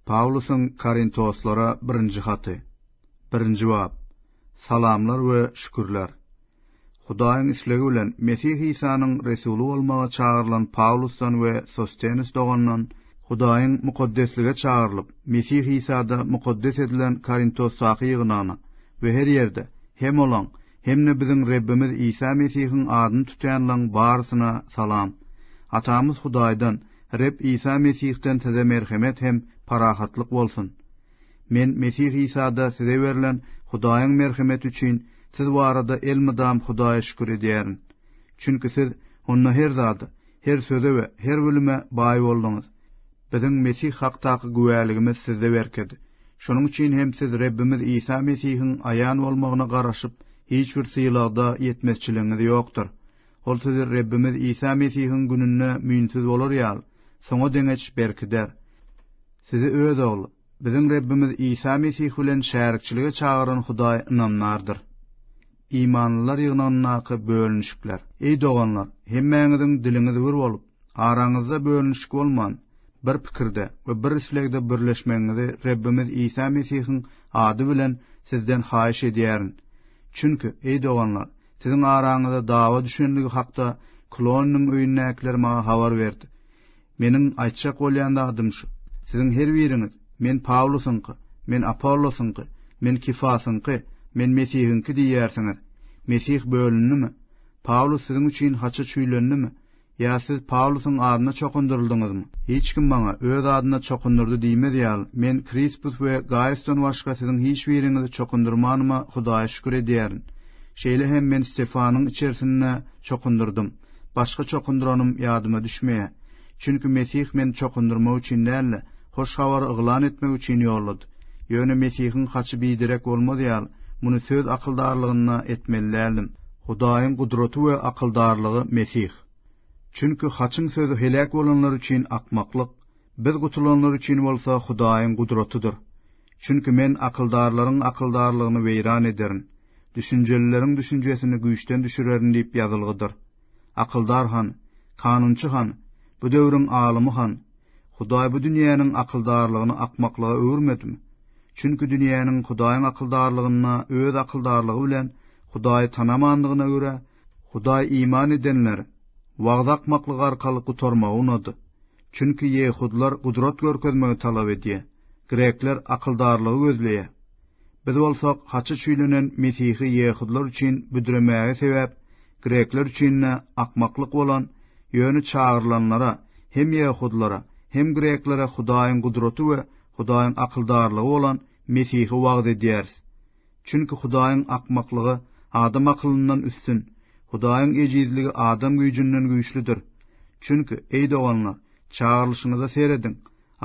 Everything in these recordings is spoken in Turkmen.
Pawlusyň Korintoslara birinji haty. Birinji bap. Salamlar we şükürler. Hudaýyň islegi bilen Mesih Isanyň resuly bolmaga çagyrylan Pawlusdan we Sostenus dogandan, Hudaýyň mukaddeslige çagyrylyp, Mesih Isada mukaddes edilen Korintosdaky ýygnagyna we her ýerde, hem olaň, hem-de biziň Rebbimiz Isa Mesihiň adyny tutýanlaň barysyna salam. Atamyz Hudaýdan, Reb Isa Mesihden size merhemet hem parahatlyk bolsun. Men Mesih Isada size berlen Hudaýyň merhemeti üçin siz barada elmydam Hudaýa şükür edýärin. Çünki siz onda her zada, her söze we her bilime baý bolduňyz. Biziň Mesih hakdaky güwäligimiz sizde berkedi. Şonuň üçin hem siz Rebbimiz Isa Mesihiň aýan bolmagyna garaşyp, hiç bir sylagda ýetmezçiligiňiz ýokdur. Ol sizi Rebbimiz Isa Mesihiň gününde müýnsüz bolar ýaly, soňa deňeç berkider. Sizi Öz Ogly, biziň Rebbimiz Isa Mesih bilen şärikçilige çagyran Hudaý ynamdardyr. Imanlylar ýygnagyndaky bölünişikler. Eý doganlar, hemmäňiziň diliňiz bir bolup, araňyzda bölünişik bolman, bir pikirde we bir islegde birleşmegiňizi Rebbimiz Isa Mesihiň ady bilen sizden haýyş edýärin. Çünki, eý doganlar, siziň araňyza dawa düşenligi hakda Kloniniň öýündäkiler maňa habar berdi. Meniň aýtjak bolýan zadym şu, siziň her biriňiz, Men Pawlusyňky, men Apollosyňky, men Kefasyňky, men Mesihiňki diýýärsiňiz. Mesih bölündimi? Pawlus siziň üçin haça çüýlendimi? Ýa siz Pawlusyň adyna çokundyryldyňyzmy? Hiç kim maňa öz adyna çokundyrdy diýmez ýaly, men Krispus we Gaýusdan başga siziň hiç biriňizi çokundyrmanyma Hudaýa şükür edýärin. Şeýle hem men Stefanyň içerisinde çokundyrdym. Başga çokundyranym ýadyma düşmeýär. Çünki Mesih meni çokundyrmak üçin däl-de, hoş habary yglan etmek üçin ýollady. Ýöne Mesihiň haçy biderek bolmazy ýaly, muny söz akyldarlygynda etmeli däldim. Hudaýyň gudraty we akyldarlygy Mesih. Çünki haçyň sözi heläk bolanlar üçin akmaklyk, biz gutulanlar üçin bolsa Hudaýyň gudratydyr. Çünki men akyldarlaryň akyldarlygyny weýran ederin. Düşünjelileriň düşünjesini güýçden düşürerin diýip ýazylgydyr. Akyldar han, kanunçy han, bu döwrüň alymy han, Hudaý bu dünýäniň akyldarlygyny akmaklyga öwürmedimi? Çünki dünýäniň Hudaýyň akyldarlygynda öz akyldarlygy bilen Hudaýy tanamandygyna görä, Hudaý iman edenler wagyz akmaklyk arkaly gutarmagy unady. Çünki ýehudylar gudrat görkezmegi talap edýär, grekler akyldarlygy gözleýär. Biz bolsak haça çüýlenen mesihi ýehudylar üçin büdremäge sebäp, grekler üçin-de akmaklyk bolan, ýöne çagyrylanlara, hem ýehudylara, hem greklere Hudaýyň gudraty we Hudaýyň akyldarlygy bolan Mesihi wagyz edýäris. Çünki Hudaýyň akmaklygy adam akylyndan üstün, Hudaýyň ejizligi adam güýjünden güýçlüdir. Çünki, eý doganlar, çagyrylyşyňyza serediň,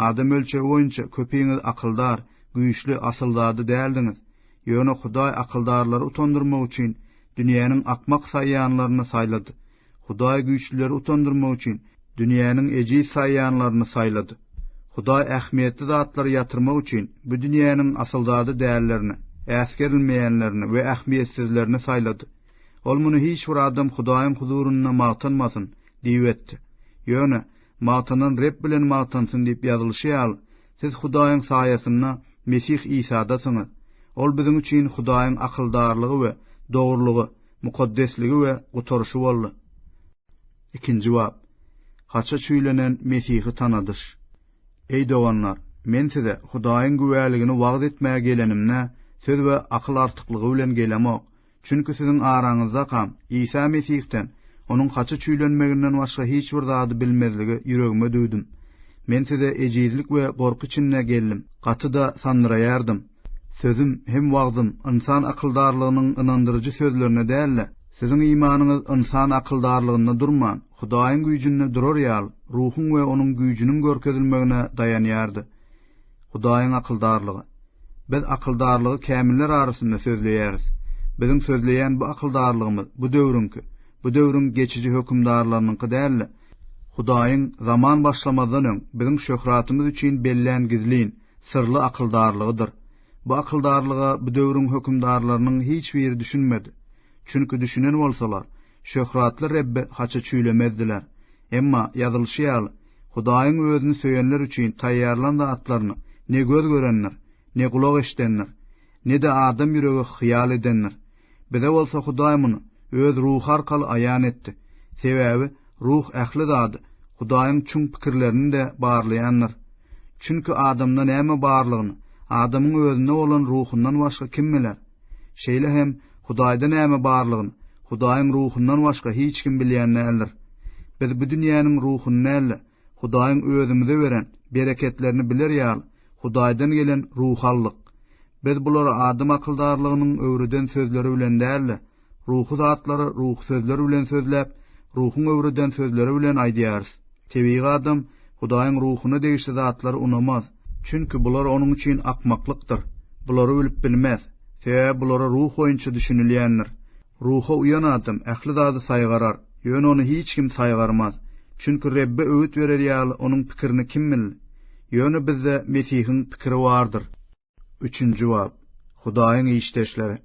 Adam ölçegi boýunça köpiňiz akyldar, güýçli, asylzada däldiňiz. Ýöne Hudaý akyldarlary utandyrmak üçin dünýäniň akmak saýýanlaryny saýlady. Hudaý güýçlüleri utandyrmak üçin dünýäniň ejiz saýýanlaryny saýlady. Hudaý ähmiýetli zatlary ýatyrmak üçin bu dünýäniň asylzada dällerini, äsgerilmeýänlerini we ähmiýetsizlerini saýlady. Ol muny hiç bir adam Hudaýyň huzurynda magtanmasyn! diýip etdi. Ýöne, Magtanan Reb bilen magtansyn diýip ýazylyşy ýaly, siz Hudaýyň saýasynda Mesih Isadasyňyz. Ol biziň üçin Hudaýyň akyldarlygy we dogrulygy, mukaddesligi we gutaryşy boldy. Ikinji bap. Haça çüýlenen Mesihi tanadyş. Eý doganlar, men size Hudaýyň güwäligini wagyz etmäge gelenimde, söz we akyl artyklygy bilen gelemok, Çünki siziň araňyzdaka Isa Mesihden, Onuň haça çüýlenmeginden başga hiç bir zady bilmezligi ýüregime düwdüm. Men size ejizlik we gorky içinde geldim, gaty-da sandyraýardym. Sözüm hem wagzym ynsan akyldarlygynyň ynandyryjy sözlerinde däl-de, siziň imanyňyz ynsan akyldarlygynda durman, Hudaýyň güýjünde durar ýaly, Ruhuň we Onuň güýjüniň görkezilmegine daýanýardy. Hudaýyň akyldarlygy. Biz akyldarlygy kämiller arasynda sözleýäris. Biziň sözleýän bu akyldarlygymyz bu döwrüňki, bu döwrüň geçiji hökümdarlarynyňky däl-de, Hudaýyň zaman başlamazdan öň biziň şöhratymyz üçin bellän gizlin, syrly akyldarlygydyr. Bu akyldarlyga bu döwrüň hökümdarlarynyň hiç biri düşünmedi. Çünki düşünen bolsalar, şöhratly Rebbi haça çüýlemezdiler. Emma, ýazylyşy ýaly, Hudaýyň özüni söýenler üçin taýýarlan-da atlaryny ne göz görendir, ne gulak eşidendir, ne-de adam ýüregi hyýal edendir. Bize bolsa Hudaý muny Öz Ruhy arkaly aýan etdi. Sebäbi Ruh ähli zady, Hudaýyň çuň pikirlerini-de barlaýandyr. Çünki adamda näme barlygyny adamyň özünde bolan Ruhundan başga kim biler? Şeýle hem Hudaýda näme barlygyny Hudaýyň Ruhundan başga hiç kim bilýän däldir. Biz bu dünýäniň ruhuny däl-de, Hudaýyň özümize beren bereketlerini biler ýaly, Hudaýdan gelen Ruhy aldyk. Biz bulary adam akyldarlygynyň öwreden sözleri bilen däl-de, ruhy zatlary ruhy sözler bilen sözläp, Ruhuň öwreden sözleri bilen aýdýarys. Tebigy adam Hudaýyň ruhuna degişli zatlary unamaz, çünki bular onuň üçin akmaklykdyr. Bulary bilip bilmez, sebäbi bulara ruh boýunça düşünilýändir. Ruha uýan adam ähli zady saýgarar, ýöne ony hiç kim saýgarmaz, çünki Rebbe öwüt berer ýaly onuň pikirini kim bildi? Ýöne bizde Mesihiň pikiri bardyr. Üçünji bab. Hudaýyň işdeşleri.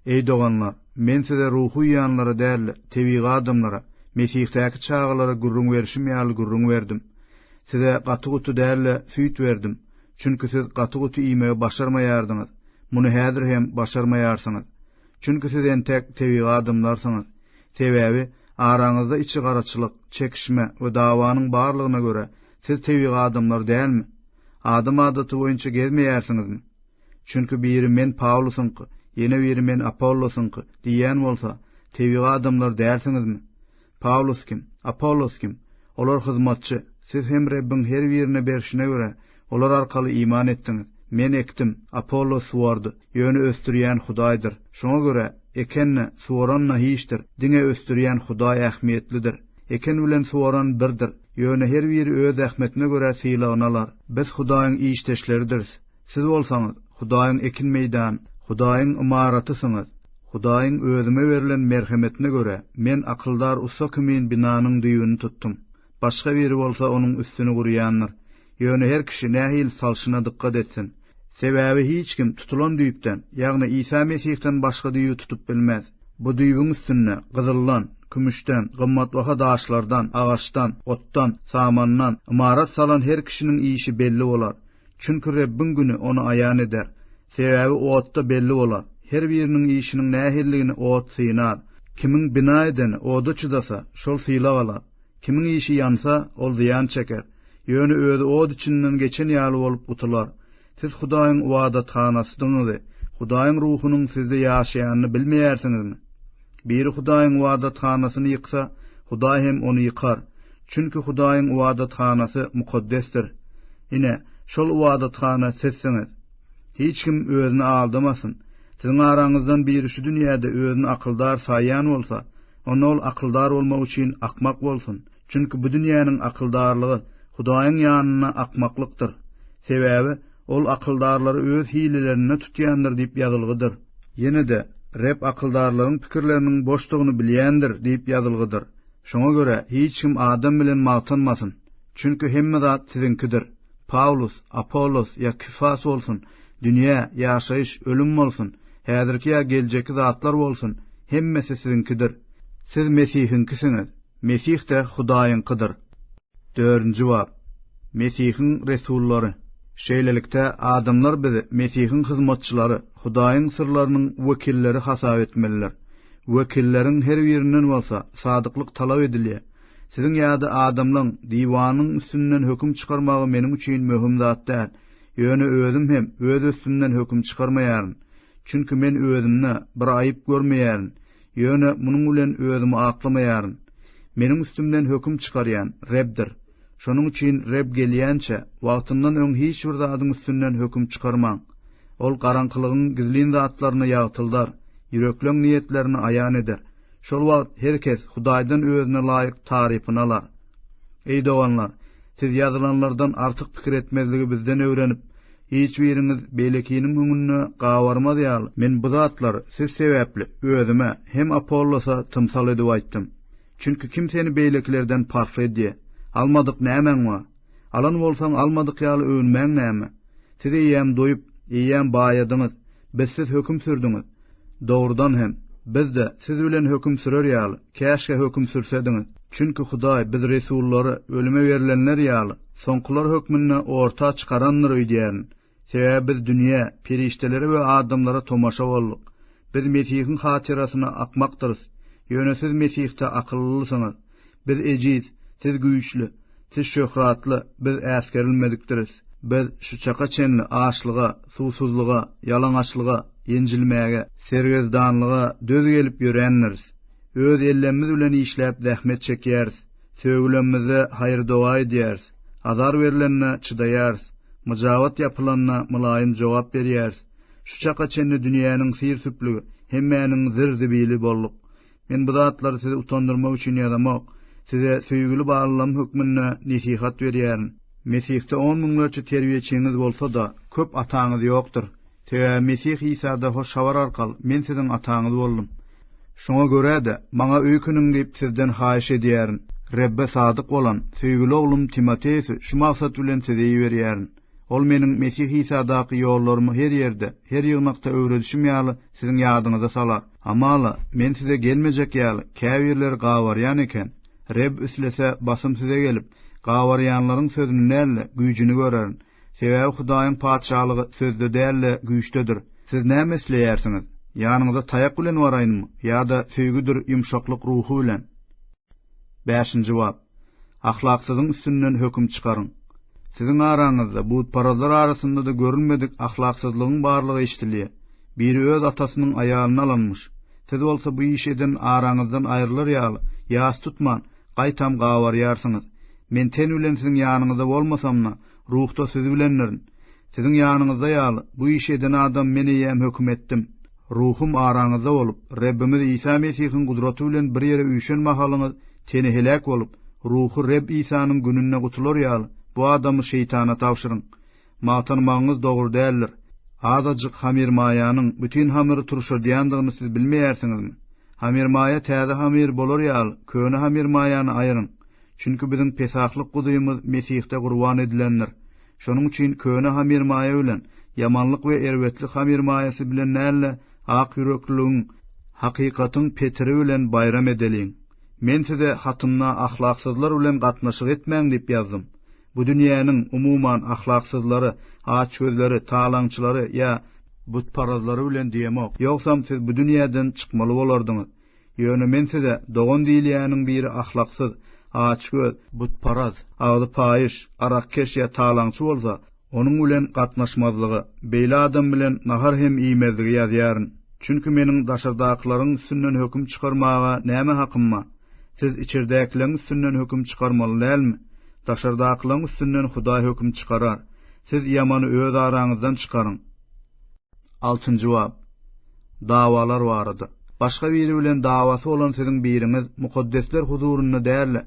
Eý doganlar, men size ruhy ýanlara däl-de, tebigy adamlara, Mesihdäki çagalara gürrüň berşim ýaly gürrüň berdim. Size gaty-guty däl-de, süýt berdim, çünki siz gaty-guty iýmegi başarmaýardyňyz, muny häzir hem başarmaýarsyňyz. Çünki siz entek tebigy adamlarsyňyz. Sebäbi araňyzda içi garaçylyk, çekişme we dawanyň barlygyna görä, siz tebigy adamlar dälmi? Adam adaty boýunça gezmeýärsiňizmi? Çünki biri men Pawlusyňky, ýene biri men Apollosyňky diýýän bolsa, tebigy adamlar dälsiňizmi? Pawlus kim? Apollos kim? Olar hyzmatçy. Siz hem Rebbiň her birine berşine görä, olar arkaly iman etdiňiz. Men ekdim, Apollos suwardy, ýöne ösdürýän Hudaýdyr. Şoňa görä, eken-de, suwaran-da hiçdir, diňe ösdürýän Hudaý ähmiýetlidir. Eken bilen suwaran birdir. Ýöne her biri öz zähmetine görä sylagyny alar. Biz Hudaýyň işdeşleridiris. Siz bolsaňyz, Hudaýyň ekin meýdany, Hudaýyň ymaratysyňyz. Hudaýyň özüme berlen merhemetine görä, men akyldar ussa kimin binanyň düýbüni tutdum. Başga biri bolsa onuň üstüni gurýandyr. Ýöne her kişi nähili salşyna dykgat etsin. Sebäbi hiç kim tutulan düýpden, ýagny Isa Mesihden başga düýbi tutup bilmez. Bu düýbüň üstünde gyzyldan, kümüşden, gymmatbaha daşlardan, agaçdan, otdan, samandan, ymarat salan her kişiniň işi belli bolar. Çünki Rebbiň güni ony aýan eder. Sebäbi otda belli bolar. Her biriniň işiniň nähilidigini ot synar. Kimiň bina edeni oda çydasa, şol sylag alar. Kimiň işi ýansa, ol zyýan çeker, ýöne özi ot içinden geçen ýaly bolup gutular. Siz Hudaýyň ybadathanasydygňyzy, Hudaýyň Ruhunyň sizde ýaşaýanyny bilmeýärsiňizmi? Biri Hudaýyň ybadathanasyny ýyksa, Hudaý hem ony ýykar. Çünki Hudaýyň ybadathanasy mukaddesdir. Ine, şol ybadathana sizsiňiz. Hiç kim özüni aldamasyn. Siziň araňyzdan biri şu dünýäde özüni akyldar saýýan bolsa, Onda ol akyldar bolmak üçin akmak bolsun, çünki bu dünýäniň akyldarlygy Hudaýyň ýanynda akmaklykdyr. Sebäbi Ol akyldarlary öz hilelerinde tutýandyr diýip ýazylgydyr. Ýene-de, Reb akyldarlaryň pikirleriniň boşdugyny bilýändir diýip ýazylgydyr. Şoňa görä, hiç kim adam bilen magtanmasyn, çünki hemme zat siziňkidir. Pawlus, Apollos ýa Kifas bolsun, Dünýä, ýaşaýyş, ölüm bolsun, häzirki ýa geljekki zatlar bolsun, hemmesi siziňkidir. Siz Mesihiňkisiňiz, Mesih-de Hudaýyňkydyr. Dördünji bap. Mesihiň resullary. Şeýlelikde, adamlar bizi Mesihiň hyzmatçylary, Hudaýyň syrlarynyň wekilleri hasap etmeliler. Wekilleriň her birinden bolsa sadyklyk talap edilýär. Siziň ýa-da adamlaryň diwanyň üstünden höküm çykarmagy meniň üçin möhüm zat däl. Ýöne özüm hem öz üstümden höküm çykarmaýaryn. Çünki men özümde bir aýyp görmeýärin, ýöne munuň bilen özümi aklamaýaryn. Meniň üstümden höküm çykarýan Rebdir. Şonuň üçin Reb gelýänçä, wagtyndan öň hiç bir zadyň üstünden höküm çykarmaň. Ol garaňkylygyň gizlin zatlaryny ýagtyldar, ýürekleň niýetlerini aýan eder. Şol wagt her kes Hudaýdan özüne laýyk tarypyny alar. Eý doganlar, siz ýazylanlardan artyk pikir etmezligi bizden öwrenip, hiç biriňiz beýlekiniň öňünde gabarmaz ýaly, men bu zatlary siz sebäpli özüme hem Apollosa tymsal edip aýtdym. Çünki kim seni beýlekilerden parhly edýär? Almadyk nämäň bar? Alan bolsaň, almadyk ýaly öwünmäň näme? Siz eýýäm doýup, eýýäm baýadyňyz, bizsiz höküm sürdüňiz. Dogrudan hem, biz-de, siz bilen höküm sürer ýaly, käşgä höküm sürsediňiz. Çünki Hudaý biz resullary, ölüme berlenler ýaly, soňkular hökmünde orta çykarandyr öýdýärin. Sebäbi biz dünýä, perişdelere we adamlara tomaşa bolduk. Biz Mesihiň hatyrasyna akmakdyrys, ýöne siz Mesihde akyllysyňyz. Biz ejiz, siz güýçli, siz şöhratly, biz äsgerilmedikdiris. Biz şu çaka çenli açlyga, suwsuzlyga, ýalaňaçlyga, ýenjilmäge, sergezdanlyga döz gelip ýörändiris. Öz ellemmiz bilen işläp zähmet çekýäris. Sögülenimizde haýyr-doga edýäris, azar berlenine çydaýarys, myjabat ýapylanda mylaýym jogap berýäris. Şu çaka çenli dünýäniň syr-süplügi, hemmäniň zir-zibili bolduk. Men bu zatlary sizi utandyrmak üçin ýazamok, size söýgüli balalarym hökmünde nesihat berýärin. Mesihde on müňlerçe terbiýeçiňiz bolsa-da, köp ataňyz ýokdur. Sebäbi Mesih Isada hoş habar arkaly men siziň ataňyz boldum. Şoňa görä-de, maňa öýkeniň diýip sizden haýyş edýärin. Rebbe sadyk bolan, söýgüli oglum Timoteusy şu maksat bilen size iberýärin. Ol meniň Mesih Isadaky ýollarymy her ýerde, her ýygnakda öwredişim ýaly siziň ýadyňyza salar. Hamala, men size gelmejek ýaly, käbirleri gabarýan eken. Reb islese, basym size gelip, gabarýanlaryň sözüni däl-de, güýjüni görerin. Sebäbi Hudaýyň Patyşalygy sözde däl-de, güýçdedir. Siz näme isleýärsiňiz? Ýanyňyza taýak bilen baraýynmy ýa-da söýgüdir ýumşaklyk ruhy bilen? Bäşinji bap. Ahlaksyzyň üstünden höküm çykaryň. Siziň araňyzda, butparazlar arasynda-da görülmedik ahlaksyzlygyň barlygy eşidilýär. Biri öz atasynyň aýalyny alanmyş. Siz bolsa bu işi eden araňyzdan aýrylar ýaly, ýas tutman, Gaýtam gabarýarsyňyz. Men ten bilen siziň ýanyňyzda bolmasam-da, ruhda siz bilendirin. Siziň ýanyňyzda ýaly, bu işi eden adam men eýýäm höküm etdim. Ruhum araňyzda bolup, Rebbimiz Isa Mesihiň gudraty bilen bir ýere üýşen mahalyňyz, teni heläk bolup, ruhy Reb Isanyň gününde gutular ýaly, bu adamy Şeýtana tabşyryň. Magtanmagyňyz dogry däldir. Azajyk hamirmaýanyň bütin hamyry turşadýandygyny siz bilmeýärsiňizmi? Hamirmaýa täze hamyr bolar ýaly, köne hamirmaýany aýyryň. Çünki biziň Pesahlyk Guzymyz Mesihde gurban edilendir. Şonuň üçin köne hamirmaýa bilen, ýamanlyk we erbetlik hamirmaýasy bilen däl-de, akýürekliligiň, hakykatyň petiri bilen baýram edeliň. Men size hatymda ahlaksyzlar bilen gatnaşyk etmäň diýip ýazdym. Bu dünýäniň, umuman, ahlaksyzlary, açgözleri, talaňçylary ýa. Butparazlary bilen diýemok. Ýogsam siz bu dünýäden çykmaly bolardyňyz. Ýöne men size, dogan diýilýäniň biri ahlaksyz, açgöz, butparaz, agzy paýyş, arakkeş ýa talaňçy bolsa, onuň bilen gatnaşmazlygy, beýle adam bilen nahar hem iýmezligi ýazýaryn. Çünki meniň daşardakylaryň üstünden höküm çykarmaga näme hakym bar? Siz içerdäkileň üstünden höküm çykarmaly dälmi? Daşardakylaň üstünden Hudaý höküm çykarar. Siz ýamany öz araňyzdan çykaryň. Altynjy bap. Dawalar barada. Başga biri bilen dawasy bolan siziň biriňiz mukaddesler huzurynda däl-de,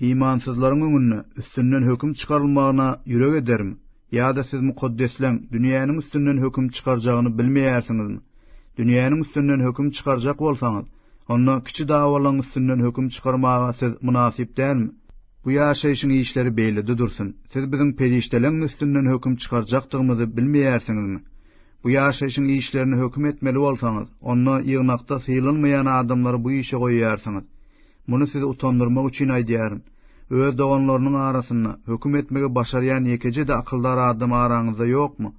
imansyzlaryň öňünde üstünden höküm çykarylmagyna ýürek edermi? Ýa-da siz Mukaddesleň dünýäniň üstünden höküm çykarjagyny bilmeýärsiňizmi? Dünýäniň üstünden höküm çykarjak bolsaňyz, onda kiçi dawalaň üstünden höküm çykarmaga siz mynasyp dälmi? Bu ýaşaýşyň işleri beýlede dursun, siz biziň perişdeleň üstünden höküm çykarjakdygymyzy bilmeýärsiňizmi? Bu ýaşaýşyň işlerini höküm etmeli bolsaňyz, onda ýygnakda sylanmaýan adamlary bu işe goýýarsyňyz. Muny sizi utandyrmak üçin aýdýaryn. Öz doganlarynyň arasynda höküm etmegi başarýan ýekeje-de akyldar adam araňyzda ýokmy?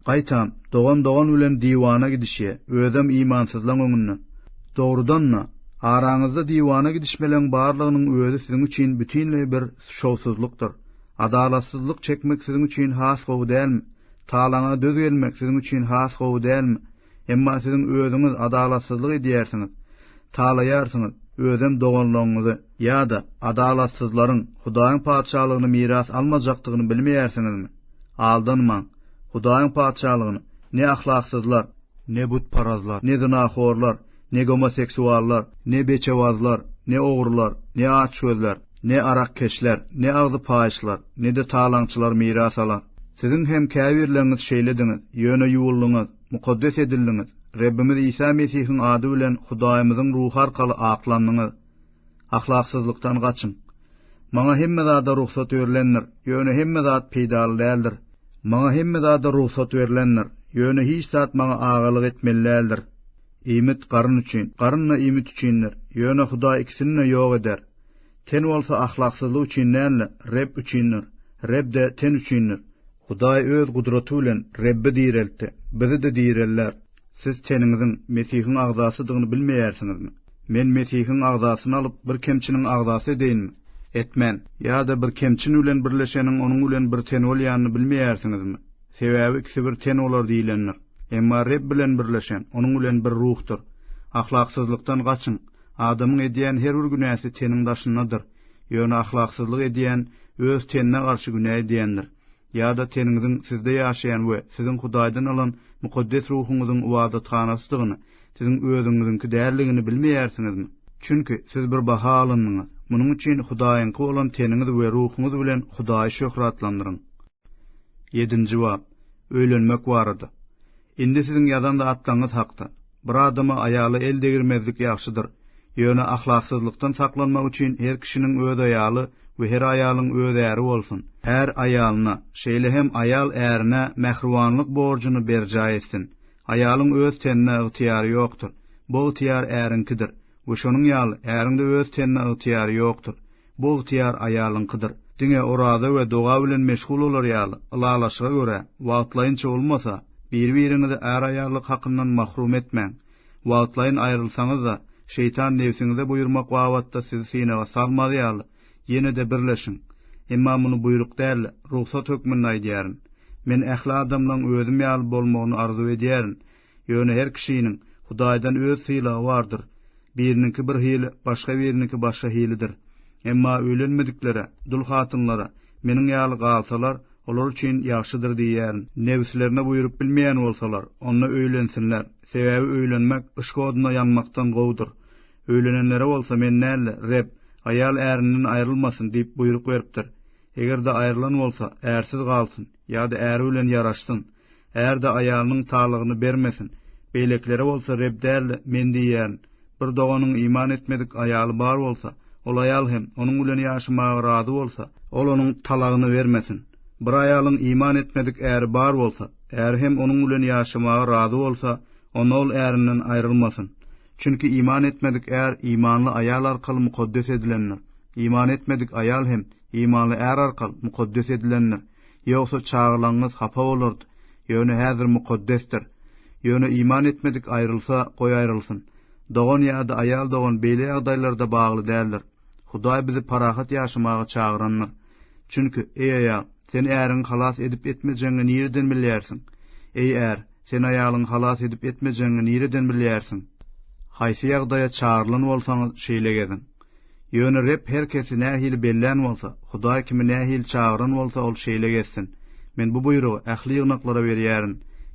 Gaýtam, dogan dogan bilen diwana gidişýä, özem imansyzlaň öňünde. Dogrudan-da, araňyzda diwana gidişmeleň barlygynyň özi siziň üçin bütinleý bir şowsuzlykdyr. Adalatsyzlyk çekmek siziň üçin has gowy dälmi? Talaňa döz gelmek siziň üçin has gowy dälmi? Emma siziň özüňiz adalatsyzlyk edýärsiňiz, talaýarsyňyz, özem doganlaryňyzy. Ýa-da Adalatsyzlaryň Hudaýyň Patyşalygyny miras almajakdygyny bilmeýärsiňizmi? Aldanmaň! Hudaýyň Patyşalygyny ne ahlaksyzlar, ne butparazlar, ne zynahorlar, Ne gomoseksuallar, ne beçewazlar, ne ogrular, ne açgözler, ne arakkeşler, ne agzy paýyşlar, ne-de talaňçylar miras alar. Siziň hem käbirleriňiz şeýlediňiz, ýöne ýuwuldyňyz, mukaddes edildiňiz, Rebbimiz Isa Mesihiň ady bilen Hudaýymyzyň Ruhy arkaly aklandyňyz. Ahlaksyzlykdan gaçyň. Maňa hemme zada rugsat berlendir, ýöne hemme zat peýdaly däldir. Maňa hemme zada rugsat berlendir, ýöne hiç zat maňa agalyk etmeli däldir. Iýmit garyn üçin, garyn-da iýmit üçindir. Ýöne Hudaý ikisini-de ýok eder. Ten bolsa ahlaksyzlyk üçin däl-de, Reb üçindir. Reb-de ten üçindir. Hudaý Öz gudraty bilen Rebbi direltdi, bizi-de direlder. Siz teniňiziň Mesihiň agzasydygyny bilmeýärsiňizmi? Men Mesihiň agzasyny alyp, bir kemçiniň agzasy edeýinmi? Etmen! Ýa-da bir kemçin bilen birleşeniň onuň bilen bir ten bolýanyny bilmeýärsiňizmi? Sebäbi ikisi bir ten bolar diýlendir. Emma Reb bilen birleşen, Onuň bilen bir ruhdyr. Ahlaksyzlykdan gaçyň. Adamyň edýän her bir günäsi teniň daşyndadyr. Ýöne ahlaksyzlyk edýän öz tenine garşy günä edýändir. Ýa-da teniňiziň sizde ýaşaýan we siziň Hudaýdan alan mukaddes ruhuňyzyň ybadathanasydygyny, siziň özüňiziňki däldigini bilmeýärsiňizmi? Çünki siz bir baha alyndyňyz. Munuň üçin Hudaýyňky bolan teniňiz we ruhuňyz bilen Hudaýy şöhratlandyryň. Ýedinji bap. Öýlenmek barada. Indi siziň ýazan zatlaryňyz hakda. Bir adama aýala el degirmezlik ýagşydyr. Ýöne ahlaksyzlykdan saklanmak üçin her kişiniň öz aýaly we her aýalyň öz äri bolsun. Är aýalyna, şeýle hem aýal ärine mähribanlyk borjuny berjaý etsin. Aýalyň öz tenine ygtyýary ýokdur. Bu ygtyýar äriňkidir. We şonuň ýaly, äriň-de öz tenine ygtyýary ýokdur. Bu ygtyýar aýalyňkydyr. Diňe oraza we doga bilen meşgul bolar ýaly, ylalaşyga görä, wagtlaýynça bolmasa, biri-biriňizi är-aýallyk hakyndan mahrum etmäň. Wagtlaýyn aýrylsaňyz-da, şeýtan nebsiňize buýurmak babatda sizi synaga salmaz ýaly, ýene-de birleşiň. Emma muny buýruk däl-de, rugsat hökmünde aýdýaryn. Men ähli adamlaryň özüm ýaly bolmagyny arzuw edýärin, Ýöne her kişiniň Hudaýdan öz sylagy bardyr. Biriniňki bir hili, başga biriniňki başga hilidir. Emma öýlenmediklere, dul hatynlara, meniň ýaly galsalar, olar üçin ýagşydyr diýýärin. Nebslerine buýrup bilmeýän bolsalar, onda öýlensinler, sebäbi öýlenmek yşk oduna ýanmakdan gowudyr. Öýlenenlere bolsa men däl-de, Reb, Aýal ärinden aýrylmasyn diýip buýruk beripdir. Eger-de aýrylan bolsa, ärsiz galsyn, ýa-da äri bilen ýaraşsyn, Är-de aýalynyň talagyny bermesin. Beýlekilere bolsa Reb däl-de, Men diýýärin. Bir doganyň iman etmedik aýaly bar bolsa, ol aýal hem onuň bilen ýaşamaga razy bolsa, ol onuň talagyny bermesin. Bir aýalyň iman etmedik äri bar bolsa, äri hem onuň bilen ýaşamaga razy bolsa, onda ol ärinden aýrylmasyn. Çünki iman etmedik är imanly aýal arkaly mukaddes edilendir. Iman etmedik aýal hem imanly är arkaly mukaddes edilendir. Ýogsa çagalaňyňyz hapa bolardy. Ýöne häzir mukaddesdir. Ýöne iman etmedik aýrylsa, goý aýrylsyn. Dogan ýa-da aýal dogan beýle ýagdaýlarda bagly däldir. Hudaý bizi parahat ýaşamaga çagyrandyr. Çünki, eý aýal, sen äriňi halas edip-etmejegiňi nireden bilýärsiň? Eý är, sen aýalyňy halas edip-etmejegiňi nireden bilýärsiň? Haýsy ýagdaýa çagyrylan bolsaňyz, şeýle geziň. Ýöne Reb her kesi nähili bellän bolsa, Hudaý kimi nähili çagyran bolsa, ol şeýle gezsin. Men bu buýrugy ähli ýygnaklara berýärin,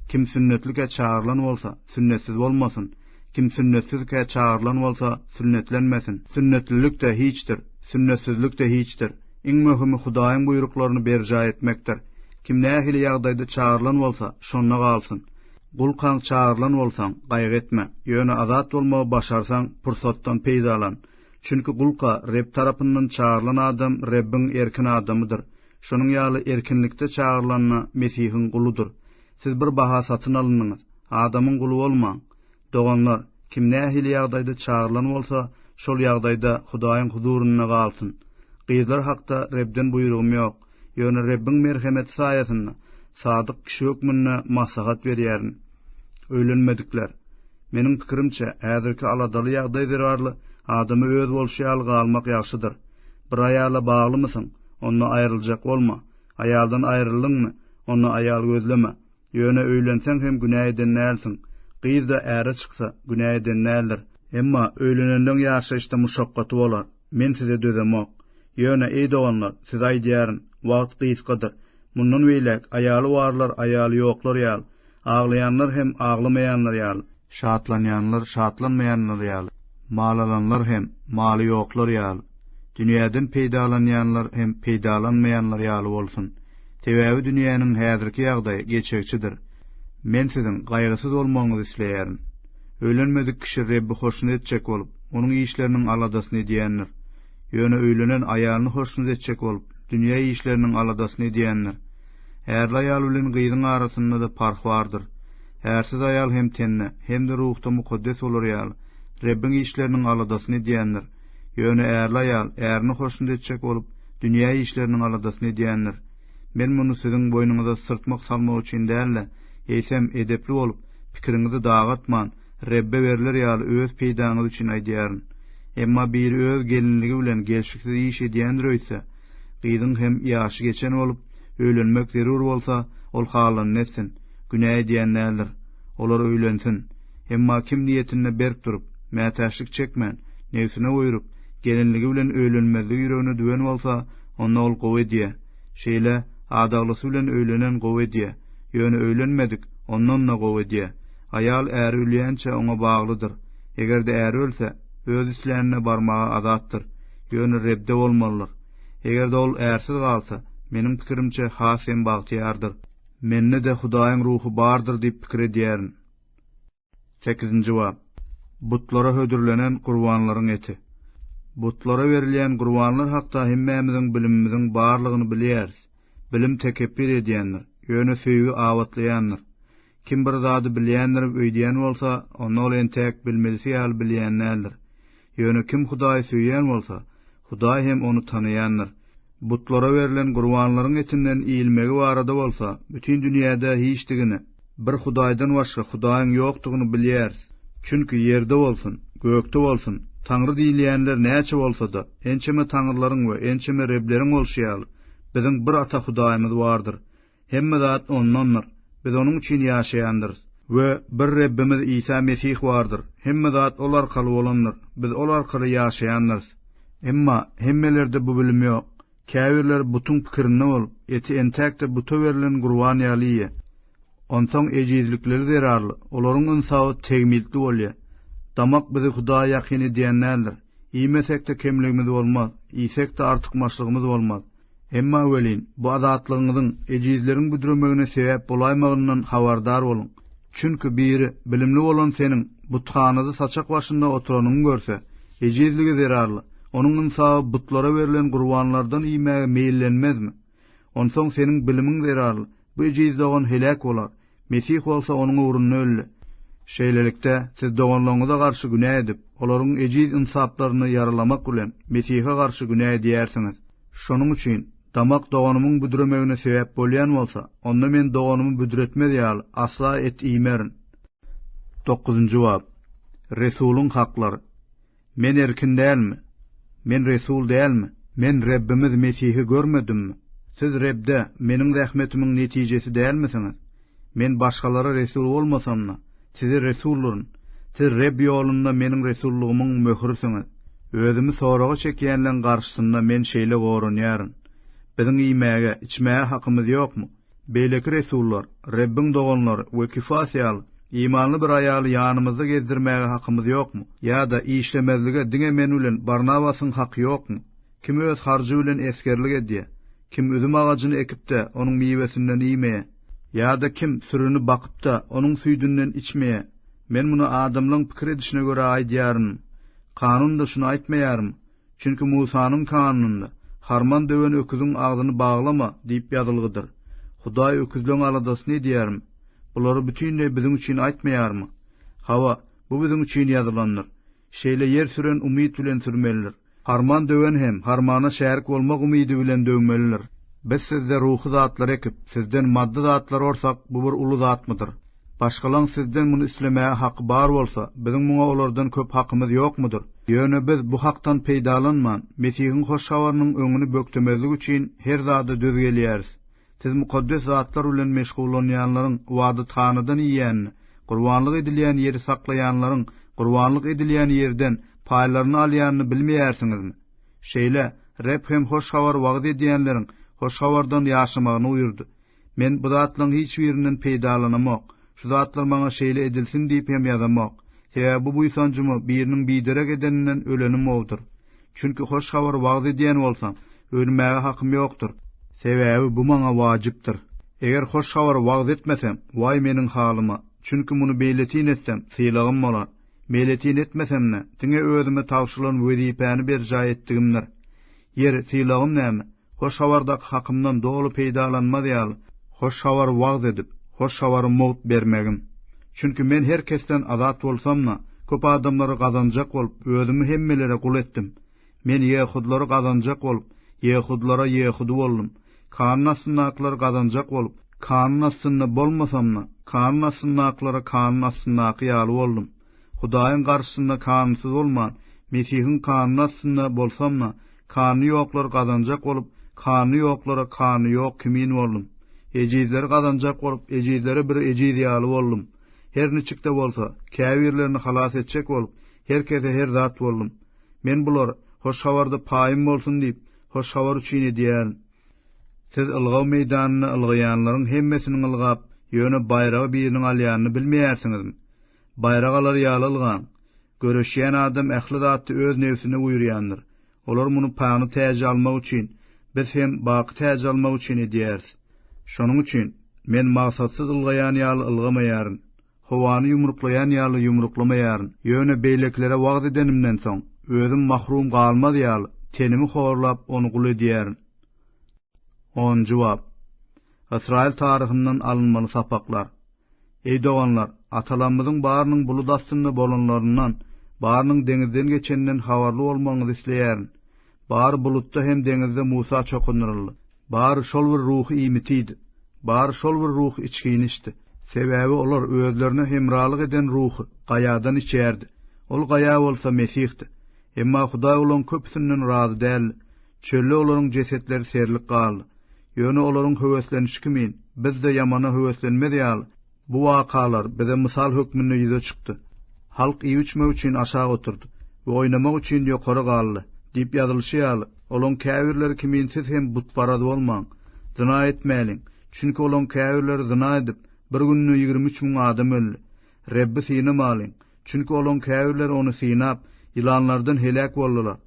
Kim sünnetlikä çagyrylan bolsa, sünnetsiz bolmasyn, kim sünnetsizkä çagyrylan bolsa, sünnetlenmesin. Sünnetlilik-de hiçdir, sünnetsizlik-de hiçdir. Iň möhümi Hudaýyň buýruklaryny berjaý etmekdir. Kim nähili ýagdaýda çagyrylan bolsa, şonda galsyn. Gulkaň çagyrylan bolsaň, gaýgy etme. Ýöne azat bolmagy başarsaň, pursatdan peýdalan. Çünki gulka Reb tarapyndan çagyrylan adam Rebbiň erkin adamydyr. Şonuň ýaly erkinlikde çagyrylan-da Mesihiň guludyr. Siz bir baha satyn alyndyňyz. Adamyň guly bolmaň. Doganlar, kim nähili ýagdaýda çagyrylan bolsa, şol ýagdaýda Hudaýyň huzurynda galsyn. Gyzlar hakda Rebden buýrugym ýok. Ýöne Rebbiň merhemeti saýasynda sadyk kişi hökmünde maslahat berýärin. Öýlenmedikler. Meniň pikirimçe, häzirki aladaly ýagdaý zerarly adama öz bolşy ýaly galmak ýagşydyr. Bir aýala baglymysyň? Onda aýryljak bolma. Aýaldan aýryldyňmy? Onda aýal gözleme. Ýöne öýlenseň hem günä eden dälsiň. Gyz-da äre çyksa, günä eden däldir. Emma öýlenenleň ýaşaýyşda muşakgaty bolar. Men size dözemok. Ýöne, eý doganlar, size aýdýaryn, wagt gysgadyr. Mundan beýläk aýaly barlar aýaly ýoklar ýaly, aglaýanlar hem aglamaýanlar ýaly, Şatlanýanlar şatlanmaýanlar ýaly, mal alanlar hem maly ýoklar ýaly, dünýäden peýdalanýanlar hem peýdalanmaýanlar ýaly bolsun. Sebäbi dünýäniň häzirki ýagdaýy geçegiçidir. Men siziň gaýgysyz bolmagyňyzy isleýärin. Öýlenmedik kişi Rebbi hoşnut etjek bolup, Onuň işleriniň aladasyny edýändir. Ýöne öýlenen aýalyny hoşnut etjek bolup, dünýä işleriniň aladasyny edýändir. Ärli aýal bilen gyzyň arasynda-da parh bardyr. Ärsiz aýal hem tende, hem-de ruhda mukaddes bolar ýaly, Rebbiň işleriniň aladasyny edýändir. Ýöne ärli aýal ärini hoşnut etjek bolup, dünýä işleriniň aladasyny edýändir. Men muny siziň boýnuňyza syrtmak salmak üçin däl-de, eýsem, edepli bolup, pikiriňizi dagatman, Rebbe berler ýaly öz peýdaňyz üçin aýdýaryn. Emma biri öz gelinligi bilen gelşiksiz iş edýändir öýtse, gyzyň hem ýaşy geçen bolup, öýlenmek zerur bolsa, ol halanyny etsin. Günä edýän däldir. Olar öýlensin. Emma kim niýetinde berk durup, mätäçlik çekmän, nebsine oýuryp, gelinligi bilen öýlenmezligi ýüregine düwen bolsa, onda ol gowy edýär. Şeýle, adaglysy bilen öýlenen gowy edýär. Ýöne öýlenmedik, ondan-da gowy edýär. Aýal äri ölýänçä oňa baglydyr. Eger-de äri ölse, öz islänine barmaga azatdyr. Ýöne Rebde bolmalydyr. Eger-de ol ärsiz galsa, meniň pikirimçe, has hem bagtyýardyr. Mende-de Hudaýyň Ruhy bardyr diýip pikir edýärin. Sekizinji bap. Butlara hödürlenen gurbanlaryň eti. Butlara berilýän gurbanlar hakda hemmämiziň bilimimiziň barlygyny bilýäris. Bilim tekepbir edýändir, ýöne söýgi abatlaýandyr. Kim bir zady bilýändirim öýdýän bolsa, onda ol entäk bilmelisi ýaly bilýän däldir. Ýöne kim Hudaýy söýýän bolsa, Hudaý hem ony tanaýandyr. Butlara berlen gurbanlaryň etinden iýilmegi barada bolsa, bütin dünýäde hiçdigini, bir Hudaýdan başga Hudaýyň ýokdugyny bilýäris. Çünki ýerde bolsun, gökde bolsun, Taňry diýilýänler näçe bolsa-da, ençeme taňrylaryň we ençeme Rebleriň bolşy ýaly, biziň bir Ata Hudaýymyz bardyr. Hemme zat Ondandyr. Biz Onuň üçin ýaşaýandyrys. We bir Rebbimiz Isa Mesih bardyr. Hemme zat Ol arkaly bolandyr. Biz Ol arkaly ýaşaýandyrys. Emma hemmelerde bu bilim ýok. Käbirleri butuň pikirinde bolup, eti entäkde buta berlen gurban ýaly iýýär. Onsoň ejizlikleri zerarly, olaryň ynsaby tegmiltli bolýar. Damak bizi Hudaýa ýakyn edýän däldir. Iýmesek-de kemligimiz bolmaz, iýsek-de artykmaçlygymyz bolmaz. Emma welin, bu azatlygyňyzyň ejizleriň büdremegine sebäp bolaýmagyndan habardar boluň. Çünki biri bilimli bolan seniň buthanada saçak başynda oturanyňy görse, ejizligi zerarly, onuň ynsaby butlara berlen gurbanlardan iýmäge meýillenmezmi? Onsoň seniň bilimiň zerarly, bu ejiz dogan heläk bolar. Mesih bolsa onuň ugrunda öldi. Şeýlelikde, siz doganlaryňyza garşy günä edip, olaryň ejiz ynsaplaryny ýaralamak bilen, Mesihe garşy günä edýärsiňiz. Şonuň üçin, damak doganymyň büdremegine sebäp bolýan bolsa, onda men doganymy büdretmez ýaly, asla et iýmerin. Dokuzynjy bap. Resulyň haklary. Men erkin dälmi? Men resul dälmi? Men Rebbimiz Mesihi görmedimmi? Siz Rebde meniň zähmetimiň netijesi dälmisiňiz? Men başgalara resul bolmasam-da, size resuldyryn. Siz Reb ýolunda meniň resullygymyň möhürisiňiz. Özümi soraga çekýänleň garşysynda men şeýle goranýaryn. Biziň iýmäge, içmäge hakymyz ýokmy? Beýleki resullar, Rebbiň doganlary we Kifas ýaly, imanly bir aýaly ýanymyzda gezdirmäge hakymyz ýokmy? Ýa-da işlemezlige diňe men bilen Barnabasyň haky ýokmy? Kim öz harjy bilen esgerlik edýär? Kim üzüm agajyny ekip-de, onuň miwesinden iýmeýär? Ýa-da kim sürini bakyp-da, onuň süýdünden içmeýär? Men muny adamlaryň pikir edişine görä aýdýaryn. Kanun-da şuny aýtmaýarmy? Çünki Musanyň kanunynda, Harman döwen öküziň agzyny baglama diýip ýazylgydyr. Hudaý öküzleň aladasyny edýärmi? Bulary bütinleý biziň üçin aýtmaýarmy? Hawa, bu biziň üçin ýazylandyr. Şeýle ýer süren umyt bilen sürmelidir. Harman döwen hem harmana şärik bolmak umydy bilen döwmelidir. Biz sizde ruhy zatlary ekip, sizden maddy zatlary orsak, bu bir uly zatmydyr? Başgalaň sizden muny islemäge haky bar bolsa, biziň muňa olardan köp hakymyz ýokmudyr? Ýöne biz bu hakdan peýdalanman, Mesihiň hoş habarynyň öňüni bökdemezlik üçin her zada döz gelýäris. Siz mukaddes zatlar bilen meşgullanýanlaryň ybadathanadan iýýänini, gurbanlyk edilýän ýeri saklaýanlaryň gurbanlyk edilýän ýerden paýlaryny alýanyny bilmeýärsiňizmi? Şeýle, Reb hem hoş habary wagyz edýänleriň hoş habardan ýaşamagyny buýurdy. Men bu zatlaryň hiç birinden peýdalanamok, şu zatlar maňa şeýle edilsin diýip hem ýazamok. Sebäbi bu buýsanjymy biriniň biderek edeninden ölenim gowudyr. Çünki hoş habary wagyz edýän bolsam, ölmäge hakym ýokdur. Sebäbi bu maňa wajypdyr. Eger hoş habary wagyz etmesem, waý meniň halyma! Çünki muny meýletin etsem, sylagym bolar. Meýletin etmesem-de, diňe özüme tabşyrylan wezipäni berjaý etdigimdir. Ýeri, sylagym näme? Hoş habardaky hakymdan doly peýdalanmaz ýaly, hoş habary wagyz edip, hoş habary mugt bermegim. Çünki men her kesden azat bolsam-da, köp adamlary gazanjak bolup, özümi hemmelere gul etdim. Men ýehudylary gazanjak bolup, ýehudylara ýehudy boldum. Kanun astyndakylary gazanjak bolup, kanun astynda bolmasam-da, kanun astyndakylara kanun astyndaky ýaly boldum. Hudaýyň garşysynda kanunsyz bolman, Mesihiň kanuny astynda bolsam-da, kanuny ýoklary gazanjak bolup, kanuny ýoklara kanuny ýok kimin boldum. Ejizleri gazanjak bolup, ejizlere bir ejiz ýaly boldum. Her niçik-de bolsa, käbirlerini halas etjek bolup, her kese her zat boldum. Men bulary, Hoş Habarda paýym bolsun diýip, Hoş Habar üçin edýärin. Siz ylgaw meýdanynda ylgaýanlaryň hemmesiniň ylgap, ýöne baýragy biriniň alýanyny bilmeýärsiňizmi? Baýrak alar ýaly ylgaň. Göreşýän adam ähli zatda öz nebsine buýurýandyr. Olar muny pany täji almak üçin, biz hem baky täji almak üçin edýäris. Şonuň üçin, men maksatsyz ylgaýan ýaly ylgamaýaryn. Howany ýumruklaýan ýaly ýumruklamaýaryn, ýöne beýlekilere wagyz edenimden soň, özüm mahrum galmaz ýaly, tenimi horlap, ony gul edýärin. Onunjy bap. Ysraýyl taryhyndan alynmaly sapaklar. Eý doganlar! Atalarymyzyň barynyň bulut astynda bolanlaryndan, barynyň deňizden geçeninden habarly bolmagyňyzy isleýärin. Bary bulutda hem deňizde Musa çokundyryldy. Bary şol bir ruhy iýmiti iýdi. Bary şol bir ruhy içgini içdi. Sebäbi olar özlerine hemralyk eden ruhy Gaýadan içýärdi. Ol Gaýa bolsa Mesihdi. Emma Hudaý olaryň köpüsinden razy däldi. Çölde olaryň jesetleri serlik galdy. Ýöne olaryň höweslenişi kimin, biz-de ýamana höweslenmez ýaly, bu wakalar bize mysal hökmünde ýüze çykdy. Halk iýip-içmek üçin aşak oturdy we oýnamak üçin ýokary galdy diýip ýazylyşy ýaly, olaň käbirleri kimin siz hem butparaz bolmaň, zyna etmäliň, çünki olaň käbirleri zyna edip, bir günde ýigrimi üç müň adam öldi. Rebbi synamalyň, çünki olaň käbirleri ony synap, ýylanlardan heläk boldular.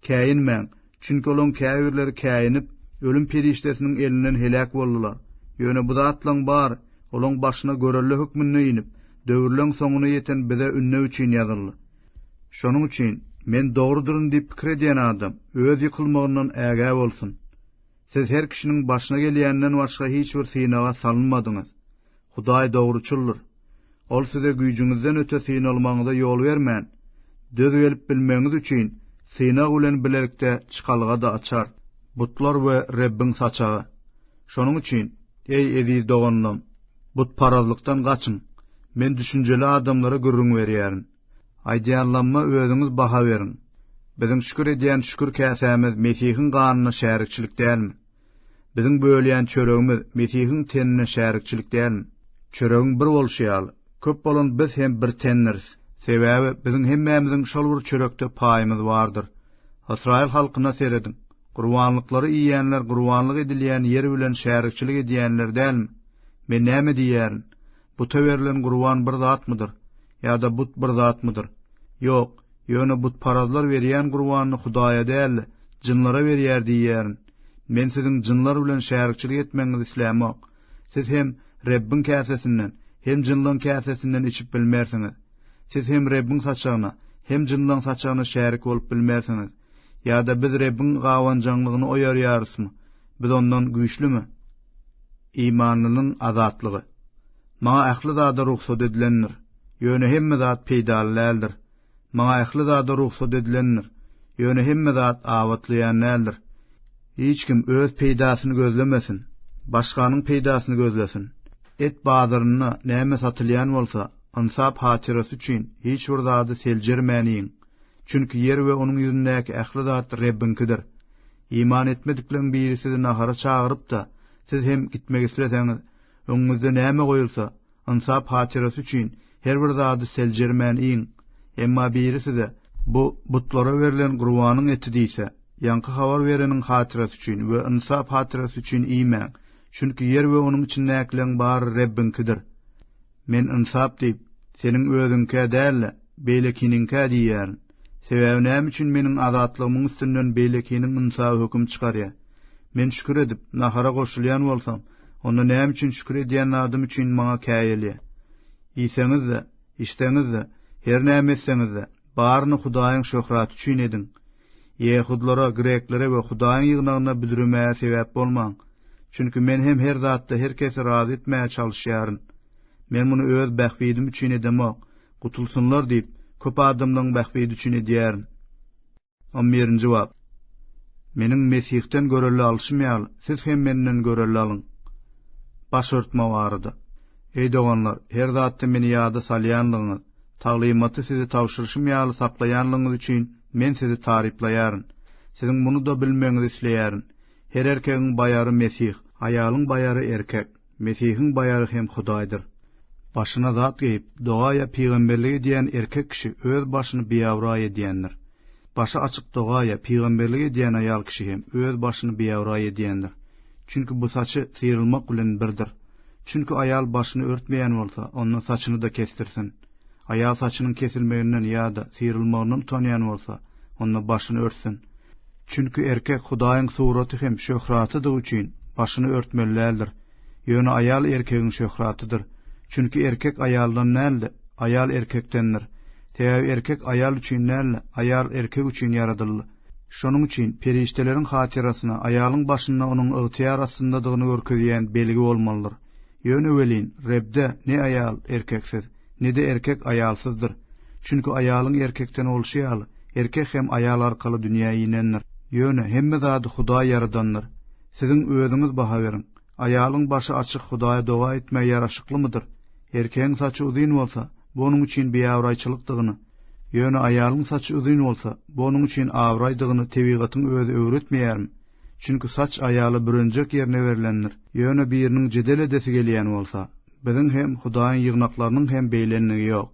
Käýinmäň, çünki olaň käbirleri käýinip, ölüm perişdesiniň elinden heläk boldular. Ýöne bu zatlaryň bary olaň başyna görelde hökmünde inip, döwürleň soňuna ýeten bize ündew üçin ýazyldy. Şonuň üçin, Men dogrudyryn diýip pikir edýän adam, öz ýykylmagyndan ägä bolsun. Siz her kişiniň başyna gelýänden başga hiç bir synaga salynmadyňyz. Hudaý dogruçyldyr. Ol size güýjüňizden öte synalmagyňyza ýol bermän, döz gelip bilmegiňiz üçin synag bilen bilelikde çykalga-da açar. Butlar we Rebbiň saçagy. Şonuň üçin, eý, eziz doganlam, butparazlykdan gaçyň. Men düşünjeli adamlara gürrüň berýärin. Aýdýanlamma özüňiz baha beriň. Biziň şükür edýän şükür käsämiz Mesihiň ganyna şärikçilik dälmi? Biziň bölýän çöregimiz Mesihiň tenine şärikçilik dälmi? Çöregiň bir bolşy ýaly, köp bolan biz hem bir tendiris. Sebäbi biziň hemmämiziň şol bir çörekde paýymyz bardyr. Ysraýyl halkyna serediň. Gurbanlyklary iýýänler gurbanlyk edilýän ýer bilen şärikçilik edýänler dälmi? Men näme diýýärin? Buta berlen gurban bir zatmydyr? Ýa-da but bir zatmydyr? Ýok, ýöne butparazlar berýän gurbanyny Hudaýa däl-de, jynlara berýär diýýärin. Men siziň jynlar bilen şärikçilik etmegiňizi islämok. Siz hem Rebbiň käsesinden, hem jynlaryň käsesinden içip bilmersiňiz. Siz hem Rebbiň saçagyna, hem jynlaryň saçagyna şärik bolup bilmersiňiz. Ýa-da biz Rebbiň gabanjaňlygyny oýarýarysmy? Biz ondan güýçlümi? Imanlynyň azatlygy. Maňa ähli zada rugsat edilendir, ýöne hemme zat peýdaly däldir. Maňa ähli zada rugsat edilendir, ýöne hemme zat abatlaýan däldir. Hiç kim öz peýdasyny gözlemesin, başganyň peýdasyny gözlesin. Et bazarynda näme satylýan bolsa, ynsap hatyrasy üçin hiç bir zady seljermän iýiň. Çünki ýer we onuň ýüzündäki ähli zat Rebbiňkidir. Iman etmedikleriň biri sizi nahara çagyryp-da, siz hem gitmek isleseňiz, öňüňizde näme goýulsa, ynsap hatyrasy üçin, her bir zady seljermän iýiň. Emma biri size, Bu butlara berlen gurbanyň eti diýse, ýaňky habar bereniň hatyrasy üçin we ynsap hatyrasy üçin iýmäň, çünki ýer we onuň içindäkileriň bary Rebbiňkidir. Men ynsap diýip, seniň özüňkä däl-de, beýlekiniňkä diýýärin. Sebäbi näme üçin meniň azatlygymyň üstünden beýlekiniň ynsaby höküm çykarýar? Men şükür edip, nahara goşulýan bolsam, onda näme üçin şükür edýän zadym üçin maňa käýelýär? Iýseňiz-de, içseňiz-de, her näme etseňiz-de, baryny Hudaýyň şöhraty üçin ediň. Ýehudlara, greklere we Hudaýyň ýygnagyna büdremäge sebäp bolmaň. Çünki men hem her zatda her kesi razy etmäge çalyşýaryn. Men muny öz bähbidim üçin edemok, Gutulsynlar diýip, köp adamlaryň bähbidi üçin edýärin. On birinji bap. Meniň Mesihden görelde alşym ýaly, siz hem menden görelde alyň. Baş örtme barada. Eý doganlar, her zatda meni ýada salýanlygyňyz, taglymaty size tabşyryşym ýaly saklaýanlygyňyz üçin men sizi taryplaýaryn. Siziň muny-da bilmegiňizi isleýärin, her erkegiň baýary Mesih, aýalyň baýary erkek. Mesihiň baýary hem Hudaýdyr. Başyna zat geýip, doga ýa pygamberlik edýän erkek kişi öz başyny biabraý edýändir. Başy açyk doga ýa pygamberlik edýän aýal kişi hem öz başyny biabraý edýändir. Çünki bu saçy syrylmak bilen birdir. Çünki aýal başyny örtmeýän bolsa, onda saçyny-da kesdirsin. Aýal saçynyň kesilmeginden ýa-da syrylmagyndan utanýan bolsa, onda başyny örtsün. Çünki erkek Hudaýyň suraty hem şöhratydygy üçin, başyny örtmeli däldir. Ýöne aýal erkegiň şöhratydyr. Çünki erkek aýaldan däl-de, aýal erkekdendir. Sebäbi erkek aýal üçin däl-de, aýal erkek üçin ýaradyldy. Şonuň üçin perişdeleriň hatyrasyna aýalyň başynda onuň ygtyýar astyndadygyny görkezýän belgi bolmalydyr. Ýöne welin, Rebde ne aýal erkeksiz, ne-de erkek aýalsyzdyr. Çünki aýalyň erkekden bolşy ýaly, erkek hem aýal arkaly dünýä inendir. Ýöne hemme zady Hudaý ýaradandyr. Siziň özüňiz baha beriň. Aýalyň başy açyk Hudaýa doga etmegi ýaraşyklymydyr? Erkegiň saçy uzyn bolsa, bu onuň üçin biabraýçylykdygyny, ýöne aýalyň saçy uzyn bolsa, bu onuň üçin abraýdygyny tebigatyň özi öwretmeýärmi? Çünki saç aýala bürenjek ýerine berlendir. Ýöne biriniň jedel edesi gelýän bolsa, biziň hem, Hudaýyň ýygnaklarynyň hem beýlenligi ýok.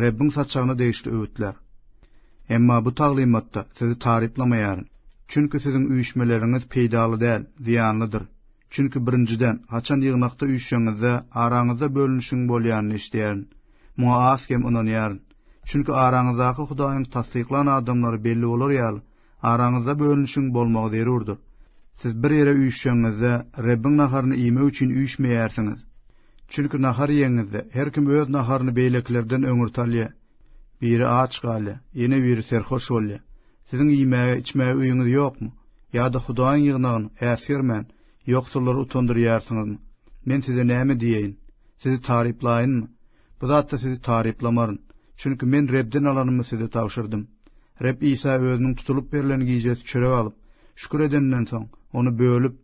Rebbiň saçagyna degişli öwütler. Emma bu taglymatda sizi taryplamaýaryn. Çünki siziň üýşmeleriňiz peýdaly däl, zyýanlydyr. Çünki birinjiden, haçan ýygnakda üýşseňizde, araňyzda bölünişigiň bolýanyny eşidýärin. Muňa az-kem ynanýaryn. Çünki araňyzdaky Hudaýyň tassyklan adamlary belli bolar ýaly, Araňyzda bölünişiň bolmagy zerurdyr. Siz bir ýere üýşşeňňizde, Rebbiň naharyny iýmek üçin üýşmeýärsiňiz. Çünki nahar iýeňňizde, her kim öz naharyny beýlekilerden öňürti alýar. Biri aç galýar, ýene biri serhoş bolýar. Siziň iýmäge, içmäge öýüňiz ýokmy? Ýa-da Hudaýyň ýygnagyny, äsgermän, ýoksullary utandyrýarsyňyzmy? Men size näme diýeýin? Sizi taryplaýynmy? Bu zatda sizi taryplamaryn, çünki men Rebden alanymy size tabşyrdym. Reb Isa özüniň tutulyp berlen gijesi çörek alyp, şükür edenden soň, ony bölüp,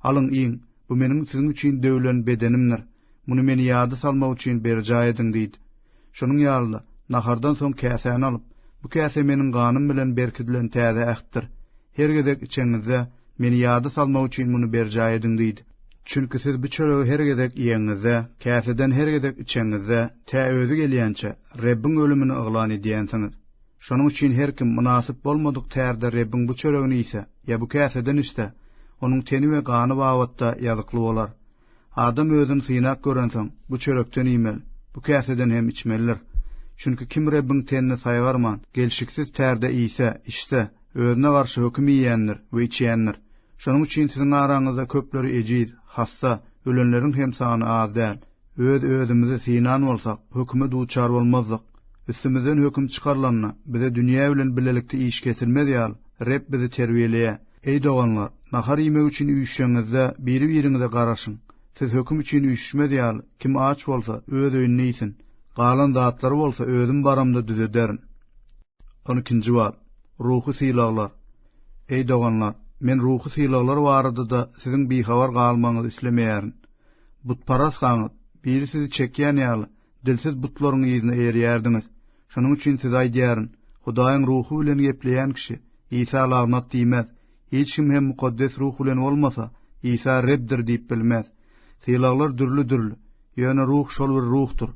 Alyň, iýiň, bu meniň siziň üçin döwülen bedenimdir. Muny meni ýada salmak üçin berjaý ediň diýdi. Şonuň ýaly-da, nahardan soň käsäni alyp, Bu käse meniň ganym bilen berkidilen täze ähtdir. Her gezek içeňizde, Meni ýada salmak üçin muny berjaý ediň diýd. Çünki siz bu çöregi her gezek iýeňizde, käseden her gezek içeňizde, tä özi gelýänçä, Rebbiň ölümini yglan edýänsiňiz. Şonuň üçin her kim mynasyp bolmadyk tärde Rebbiň bu çöregini iýse ýa bu käseden içse, onuň teni we gany babatda ýazykly bolar. Adam özüni synap görensoň, bu çörekden iýmeli, bu käseden hem içmelidir. Çünki kim Rebbiň tenini saýgarman, gelşiksiz tärde iýse, içse, özüne garşy höküm iýendir we içendir. Şonuň üçin siziň araňyzda köpleri ejiz, hassa, ölenleriň hem sany az däl. Öz-özümizi synan bolsak, höküme duçar bolmazdyk. Üstümizden höküm çykarylanda, bize dünýä bilen bilelikde iş kesilmez ýaly, Reb bizi terbiýeleýär. Eý doganlar, nahar iýmek üçin üýşşeňizde, biri-biriňize garaşyň. Siz höküm üçin üýşüşmez ýaly, kim aç bolsa, öz öýünde iýsin. Galan zatlary bolsa özüm baramda düzederin. On ikinji bap. Ruhy sylaglar. Eý doganlar, men ruhy sylaglar barada-da siziň bihabar galmagyňyzy islemeýärin. Butparazhaňyz, biri sizi çekýän ýaly, Dilsiz butlaryň yzyna eýerýärdiňiz. Şonuň üçin size aýdýaryn, Hudaýyň Ruhy bilen gepleýän kişi, Isa lagnat diýmez. Hiç kim hem Mukaddes Ruh bilen bolmasa, Isa Rebdir diýip bilmez. Sylaglar dürli-dürli, ýöne Ruh şol bir Ruhdyr.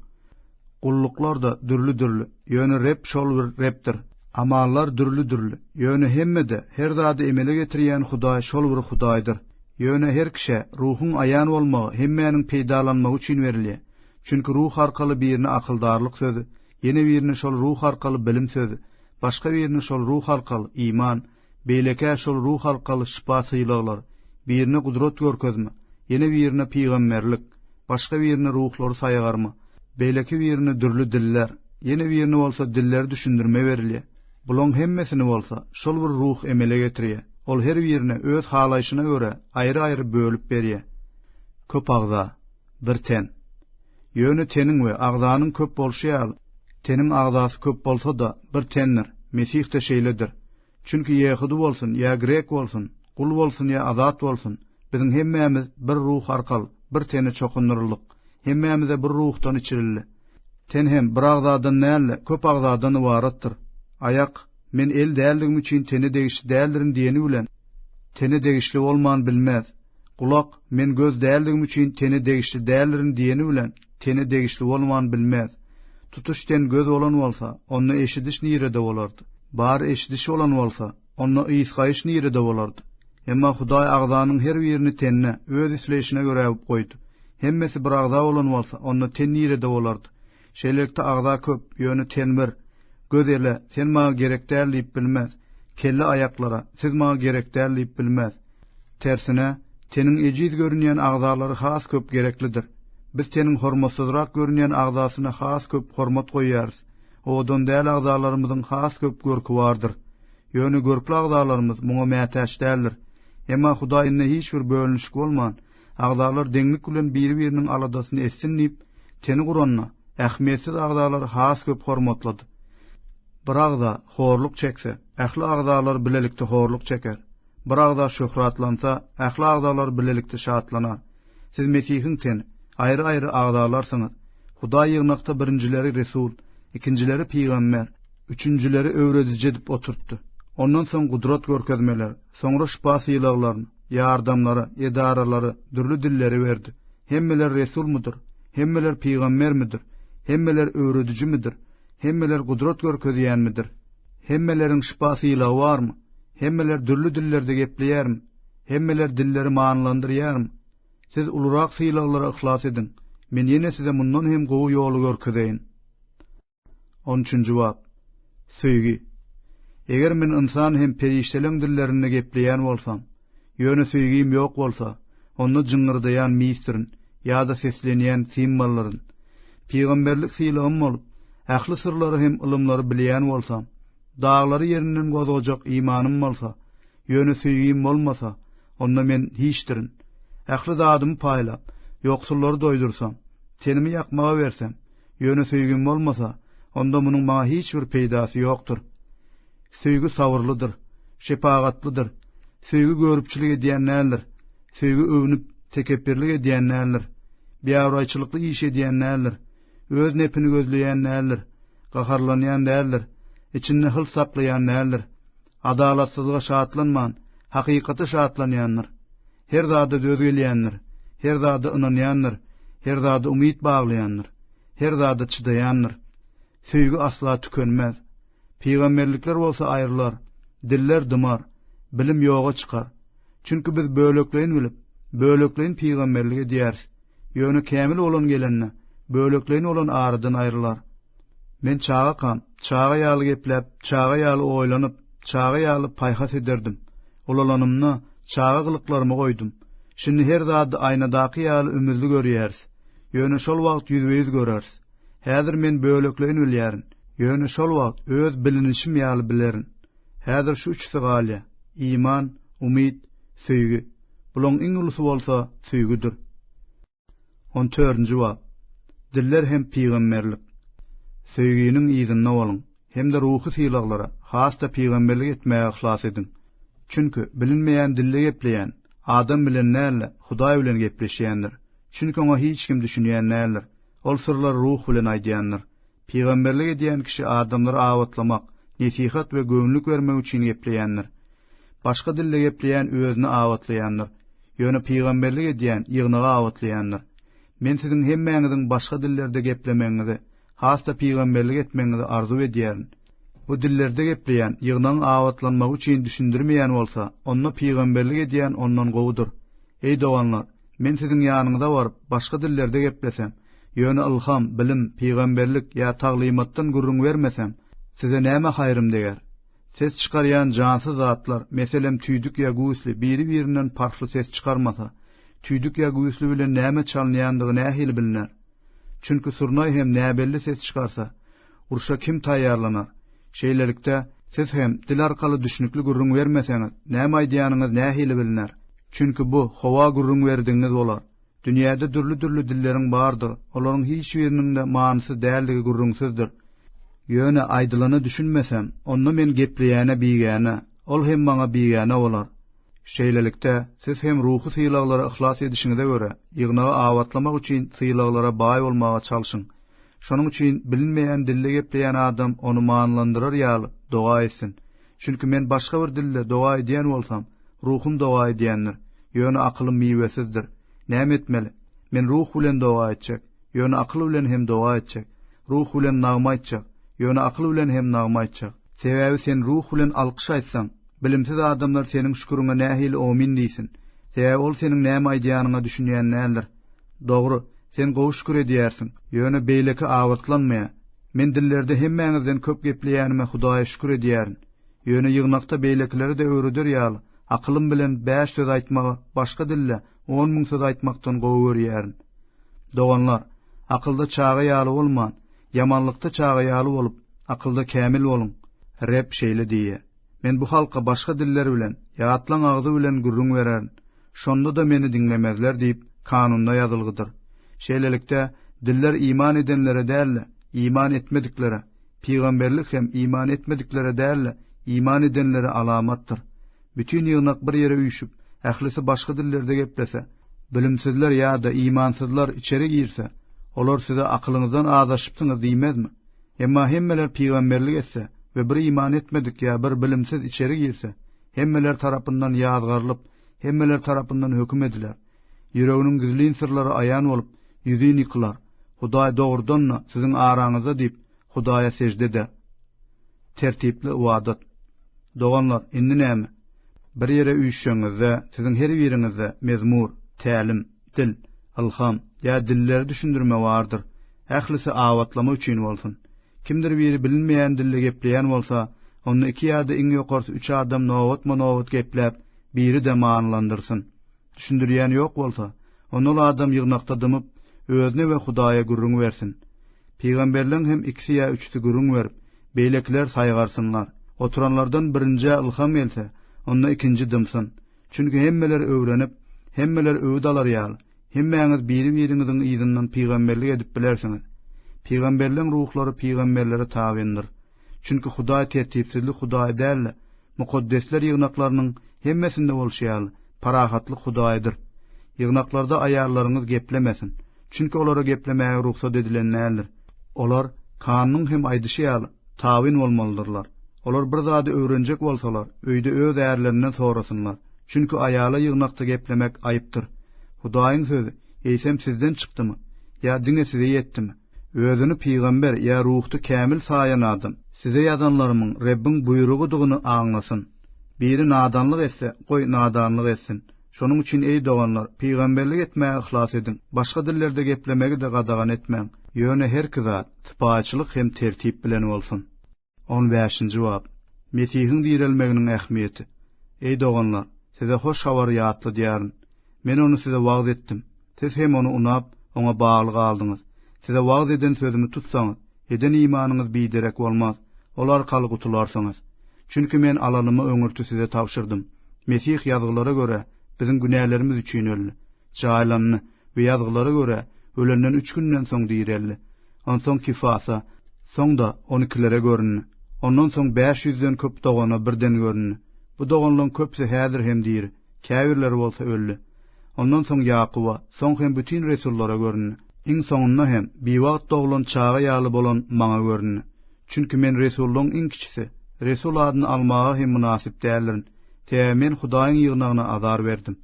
Gulluklar-da dürli-dürli, ýöne Reb şol bir Rebdir. Amallar dürli-dürli, ýöne hemmede her zady emele getirýän Hudaý şol bir Hudaýdyr. Ýöne her kişä Ruhuň aýan bolmagy hemmäniň peýdalanmagy üçin berilýär. Çünki ruh arkaly birine akyldarlyk sözi, ýene birine şol ruh arkaly bilim sözi, başga birine şol ruh arkaly iman, beýlekä şol ruh arkaly şypa sylaglar, birine gudrat görkezme, ýene birine pygamberlik, başga birine ruhlary saýgarma, beýleki birine dürli diller, ýene birine bolsa dilleri düşündirme berilýär. Bulaň hemmesini bolsa şol bir ruh emele getirýär. Ol her birine öz halaýşyna görä aýry-aýry bölüp berýär. Köp agza, Bir ten. Ýöne teniň we agzanyň köp bolşy ýaly, teniň agzasy köp bolsa-da, bir tendir, Mesih-de şeýledir. Çünki ýehudy bolsun ýa grek bolsun, gul bolsun ýa azat bolsun, biziň hemmämiz bir Ruh arkaly bir tene çokundyryldyk, hemmämize bir Ruhdan içirildi. Ten hem bir agzadan däl-de, köp agzadan ybaratdyr. Aýak, Men el däldigim üçin tene degişli däldirin diýeni bilen, tene degişli bolman bilmez. Gulak, men göz däldigim üçin tene degişli däldirin diýeni bilen, tene degişli bolman bilmez. Tutuş ten göz bolan bolsa, onda eşidiş nirede bolardy? Bar eşidiş bolan bolsa, onda ysgaýyş nirede bolardy? Emma Hudaý agzanyň her birini tende Öz isleýşine görä goýdy. Hemmesi bir agza bolan bolsa, onda ten nirede bolardy? Şeýlelikde agza köp, ýöne ten bir. Göz ele, sen maňa gerek däl diýip bilmez. Kelle aýaklara, siz maňa gerek däl diýip bilmez. Tersine, teniň ejiz görünýän agzalary has köp gereklidir. Biz teniň hormatsyzrak görünýän agzasyna has köp hormat goýýarys. Owadan däl agzalarymyzyň has köp görki bardyr. Ýöne görkli agzalarymyz muňa mätäç däldir. Emma Hudaý indi hiç bir bölünişik bolman, Agzalar deňlik bilen biri-biriniň aladasyny etsin diýip, teni guranda, ähmiýetsiz agzalary has köp hormatlady. Bir agza horluk çekse, ähli agzalar bilelikde horluk çeker. Bir agza şöhratlansa, ähli agzalar bilelikde şatlanar. Siz Mesihiň teni, aýry-aýry agzalarsyňyz. Hudaý ýygnakda birinjileri resul, ikinjileri pygamber, üçünjileri öwrediji edip oturtdy. Ondan soň gudrat görkezmeler, Soňra şypa sylaglaryny, ýardamlary, edaralary, dürli dilleri berdi. Hemmeler resulmydyr? Hemmeler pygambermidir? Hemmeler öwredijimidir? Hemmeler gudrat görkezýänmidir? Hemmeleriň şypa sylagy barmy? Hemmeler dürli dillerde gepleýärmi? Hemmeler dilleri manylandyrýarmy? Siz ulurak sylaglara yhlas ediň. Men ýene size mundan hem gowy ýoly görkezeýin. On üçünji bap. Söýgi. Eger men ynsan hem perişdeleň dillerinde gepleýän bolsam, ýöne söýgim ýok bolsa, onda jyňňyrdaýan misdirin ýa-da seslenýän simwollaryn. Pygamberlik sylagym bolup, ähli syrlary hem ylymlary bilýän bolsam, daglary ýerinden gozgajak imanym bolsa, ýöne söýgim bolmasa, onda men hiçdirin. Ähli zadymy paýlap, ýoksullary doýdursam, tenimi ýakmaga bersem, Ýöne söýgim bolmasa, onda munuň maňa hiç bir peýdasy ýokdur. Söýgi sabyrlydyr, şepagatlydyr. Söýgi görüpçilik edýän däldir. Söýgi öwnüp, tekepbirlik edýän däldir. Biabraýçylykly iş edýän däldir. Öz nepini gözleýän däldir. Gaharlanýan däldir. Içinde hyls saklaýan däldir. Adalatsyzlyga şatlanman, hakykata şatlanýandyr. Her zada döz gelýändir, her zada ynanýandyr, her zada umyt baglaýandyr, her zada çydaýandyr. Söýgi asla tükenmez. Pygamberlikler bolsa aýrylar, diller dymar, bilim ýoga çykar. Çünki biz bölekleýin bilip, bölekleýin pygamberlik edýäris. Ýöne kämil bolan gelende, bölekleýin bolan aradan aýrylar. Men çagakam, çaga ýaly gepläp, çaga ýaly oýlanyp, çaga ýaly paýhas ederdim. Ulalanymda, çaga gylyklarymy goýdum. Şindi her zady aýnadaky ýaly ümüzli görýäris. Ýöne şol wagt ýüzbe-ýüz göreris. Häzir men bölekleýin bilýärin. Ýöne şol wagt öz bilinişim ýaly bilerin. Häzir şu üçüsi galýar, iman, umyt, söýgi. Bulaň iň ulusy bolsa söýgüdir. On törünji bap. Diller hem pygamberlik. Söýginiň yzynda boluň hem-de ruhy sylaglara, has-da pygamberlik etmäge yhlas ediň. Çünki, bilinmeýän dilde gepleýän, adam bilen däl-de, Hudaý bilen gepleşýändir. Çünki oňa hiç kim düşünýän däldir. Ol syrlary ruh bilen aýdýandyr. Pygamberlik edýän kişi adamlary abatlamak, nesihat we göwünlik bermek üçin gepleýändir. Başga dilde gepleýän özüni abatlaýandyr. Ýöne pygamberlik edýän ýygnagy abatlaýandyr. Men siziň hemmäňiziň başga dillerde geplemegiňizi, has-da pygamberlik etmegiňizi arzuw edýärin. Bu dillerde gepleýän ýygnagyň abatlanmagy üçin düşündirmeýän bolsa, onda pygamberlik edýän ondan gowudyr. Eý doganlar! Men siziň ýanyňyza baryp, başga dillerde geplesem, ýöne ylham, bilim, pygamberlik ýa taglymatdan gürrüň bermesem, size näme haýrym deger? Ses çykarýan jansyz zatlar, meselem, tüýdük ýa güýzli, biri-birinden parhly ses çykarmasa, tüýdük ýa güýzli bilen näme çalynýandygy nähili bilner? Çünki surnaý hem näbelli ses çykarsa, Urşa kim taýýarlanar? Şeýlelikde, siz hem dil arkaly düşnükli gürrüň bermeseňiz, näme aýdýanyňyz nähili bilner? Çünki bu howa gürrüň berdigiňiz bolar. Dünýäde dürli-dürli dilleriň bardygy, olaryň hiç biriniň-de manysyz däldigi gürrüňsizdir. Ýöne aýdylana düşünmesem, onda men gepleýäne bigäne, ol hem maňa bigäne bolar. Şeýlelikde, siz hem ruhy sylaglara yhlas edişiňize görä, ýygnagy abatlamak üçin sylaglara baý bolmaga çalşyň. Şonuň üçin bilinmeýän dilde gepleýän adam ony manylandyrar ýaly doga etsin. Çünki men başga bir dilde doga edýän bolsam, ruhum doga edýändir, ýöne akylym miwesizdir. Näme etmeli? Men ruh bilen doga etjek, ýöne akyl bilen hem doga etjek. Ruh bilen nagma aýtjak, ýöne akyl bilen hem nagma aýtjak. Sebäbi sen ruh bilen alkyş aýtsaň, bilimsiz adamlar seniň şüküriňe nähili omin diýsin? Sebäbi ol seniň näme aýdýanyňa düşünýän däldir. Dogry, sen gowy şükür edýärsiň, ýöne beýleki abatlanmaýar. Men dillerde hemmäňizden köp gepleýänime Hudaýa şükür edýärin. Ýöne ýygnakda beýlekilere-de öwreder ýaly, akylym bilen bäş söz aýtmagy başga dilde on müň söz aýtmakdan gowy görýärin. Doganlar, akylda çaga ýaly bolman, ýamanlykda çaga ýaly bolup, akylda kämil boluň. Reb şeýle diýýär. Men bu halka başga diller bilen, ýatlaň agzy bilen gürrüň bererin, şonda-da Meni diňlemezler diýip, Kanunda ýazylgydyr. Şeýlelikde, diller iman edenlere däl-de, iman etmediklere, pygamberlik hem iman etmediklere däl-de, iman edenlere alamatdyr. Bütin ýygnak bir ýere üýşüp, ählisi başga dillerde geplese, bilimsizler ýa-da imansyzlar içeri girse, olar size akylyňyzdan azaşypsyňyz diýmezmi? Emma hemmeler pygamberlik etse we bir iman etmedik ýa bir bilimsiz içeri girse, hemmeler tarapyndan ýazgarylyp, hemmeler tarapyndan höküm ediler. Ýüreginiň gizlin syrlary aýan bolup, ýüzin ýykylar. Hudaý dogrudan-da siziň araňyzda diýip, Hudaýa sežde eder. Tertipli ybadat. Doganlar, indi näme? Bir ýere üýşşeňizde, siziň her biriňizde mezmur, tälim, Dil, ylham, ýa dilleri düşündirme bardyr. Ählisi abatlama üçin bolsun. Kimdir biri bilinmeýän dilde gepleýän bolsa, onda iki ýa-da iň ýokarsy üç adam nobatma-nobat gepläp, biri-de manylandyrsyn. Düşündirýän ýok bolsa, onda ol adam ýygnakda dymyp, özüne we Hudaýa gürrüň bersin. Pygamberleň hem ikisi ýa üçüsi gürrüň berip, beýlekiler saýgarsynlar. Oturanlardan birinjä ylham gelse, onda ikinji dymsyn. Çünki hemmeler öwrenip, hemmeler öwüt alar ýaly, hemmäňiz biri-biriňiziň yzyndan pygamberlik edip bilersiňiz. Pygamberleň ruhlary pygamberlere tabyndyr. Çünki Hudaý tertipsizlik Hudaýy däl-de, mukaddesler ýygnaklarynyň hemmesinde bolşy ýaly, parahatlyk Hudaýydyr. Ýygnaklarda aýallaryňyz geplemesin, çünki olara geplemäge rugsat edilen däldir. Olar, Kannuň hem aýdyşy ýaly, Tabyn bolmalydyrlar. Olar bir zady öwrenjek bolsalar, öýde öz ärlerinden sorasynlar. Çünki aýala ýygnakda geplemek aýypdyr. Hudaýyň sözi, eýsem, sizden çykdymy? Ýa diňe size ýetdimi? Özüni pygamber ýa ruhda kämil saýan adam, size ýazanlarymyň Rebbiň buýrugydygyny aňlasyn. Biri nadanlyk etse, goý, nadanlyk etsin. Şonuň üçin, eý, doganlar, pygamberlik etmäge yhlas ediň, başga dillerde geplemegi-de gadagan etmäň, ýöne her iki zat sypaýyçylyk hem tertip bilen bolsun. On bäşinji bap. Mesihiň direlmeginiň ähmiýeti. Eý, doganlar, size hoş habary ýatladýaryn. Men ony size wagyz etdim. Siz hem ony unap, oňa bagly galdyňyz. Size wagyz eden sözümi tutsaňyz, eden imanyňyz biderek bolmaz, ol arkaly gutularsyňyz. Çünki men alalyma öňürti size tabşyrdym. Mesih Ýazgylara görä, biziň günälerimiz üçin öldi, jaýlandy we Ýazgylara görä, ölenden üç günden soň direldi. Onsoň Kifasa, soň-da on ikilere göründi. Ondan soň bäş ýüzden köp dogana birden göründi. Bu doganlaryň köpüsi häzir hem diri. Käbirleri bolsa öldi. Ondan soň Ýakuba, soň hem bütin resullara göründi. Iň soňunda hem biwagt doglan çaga ýaly bolan maňa göründi. Çünki men resullaryň iň kiçisi, resul adyny almaga hem mynasyp däldirin, sebäbi men Hudaýyň ýygnagyna azar berdim.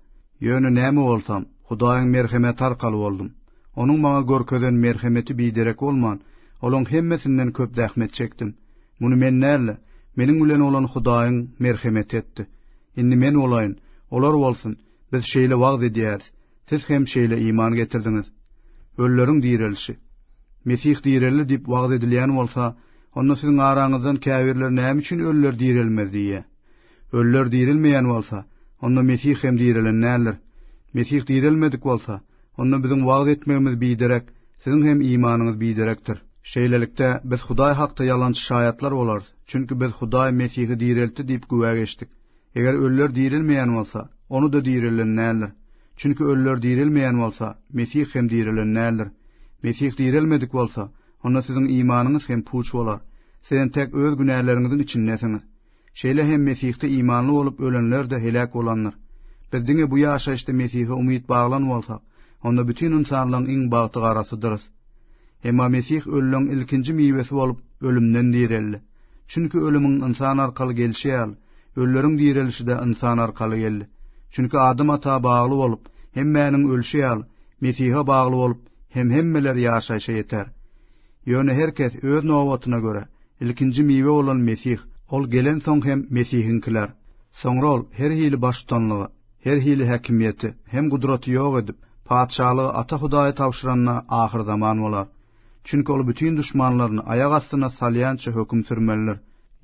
Ýöne näme bolsam, Hudaýyň merhemeti arkaly boldum. Onuň maňa görkezen merhemeti biderek bolman, olaryň hemmesinden köp zähmet çekdim. Muny men däl-de, meniň bilen bolan Hudaýyň merhemeti etdi. Indi men bolaýyn, olar bolsun, biz şeýle wagyz edýäris, siz hem şeýle iman getirdiňiz. Ölüleriň direlişi. Mesih direldi diýip wagyz edilýän bolsa, onda siziň araňyzdan käbirleri näme üçin ölüler direlmez diýýär? Ölüler dirilmeýän bolsa, onda Mesih hem direlen däldir. Mesih direlmedik bolsa, onda biziň wagyz etmegimiz biderek, siziň hem imanyňyz biderekdir. Şeýlelikde, biz Hudaý hakda ýalançy şaýatlar bolarys, çünki biz Hudaý Mesihi direltdi diýip güwä geçdik. Eger ölüler dirilmeýän bolsa, ony-da direlen däldir. Çünki ölüler dirilmeýän bolsa, Mesih hem direlen däldir. Mesih direlmedik bolsa, onda siziň imanyňyz hem puç bolar. Sizem tek öz günäleriňiziň içindesiňiz. Şeýle hem Mesihde imanly bolup ölenler-de heläk bolandyr. Biz diňe bu ýaşaýyşda Mesihe umyt baglan bolsak, onda bütin ynsanlygyň iň bagtygarasydyrys. Emma Mesih ölüligiň ilkinji miwesi bolup, ölümden direldi. Çünki ölümiň ynsan arkaly gelşi ýaly, ölüleriň direlişi-de ynsan arkaly geldi. Çünki Adam ata bagly bolup, hemmäniň ölşi ýaly, Mesihe bagly bolup hem hemmeler ýaşaýşa ýeter. Ýöne her kes öz nobatyna görä, ilkinji miwe bolan Mesih, ol gelensoň hem Mesihiňkiler. Soňra ol her hili baştutanlygy, her hili häkimiýeti hem gudraty ýok edip, Patyşalygy Ata Hudaýa tabşyranda ahyrzaman bolar. Çünki ol bütin duşmanlaryny aýak astyna salýança höküm sürmelidir.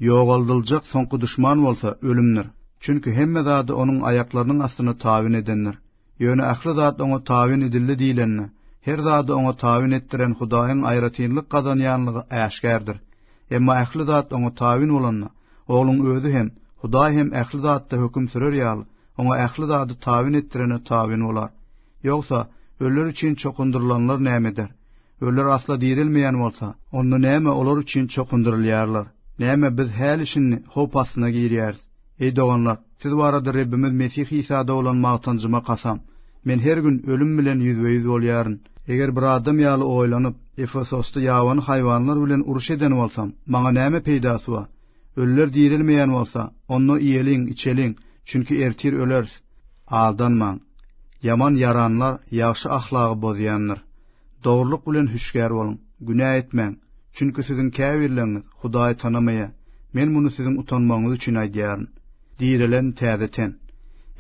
Ýogaldyljak soňky duşman bolsa ölümdir. Çünki hemme zady onuň aýaklarynyň astyna tabyn edendir. Ýöne ähli zat oňa tabyn edildi diýlende, her zady oňa tabyn etdiren Hudaýyň aýratynlyk gazanýanlygy äşgärdir. Emma ähli zat oňa tabyn bolanda, Ogluň Özi hem, Hudaý hem ähli zatda höküm sürer ýaly, oňa ähli zady tabyn etdirene tabyn bolar. Ýogsa, öller üçin çokundyrylanlar näme eder? Öller asla direlmeýän bolsa, onda näme olar üçin çokundyrylýarlar? Näme biz häli-şindi howp astyna girýäris? Eý, doganlar, siz barada Rebbimiz Mesih Isada bolan magtanjyma kasam, men her gün ölüm bilen ýüzbe-ýüz bolýaryn. Eger bir adam ýaly oýlanyp, Efesosda ýabany haýwanlar bilen uruş eden bolsam, maňa näme peýdasy bar? Ölüler direlmeýän bolsa, onda iýeliň, içeliň, çünki ertir öleris. Aldanmaň. Ýaman ýaranlar ýagşy ahlagy bozýandyr. Dogrulyk bilen hüşgär boluň, günä etmäň, çünki siziň käbirleriňiz Hudaýy tanamaýar, men muny siziň utanmagyňyz üçin aýdýaryn. Direlen täze ten.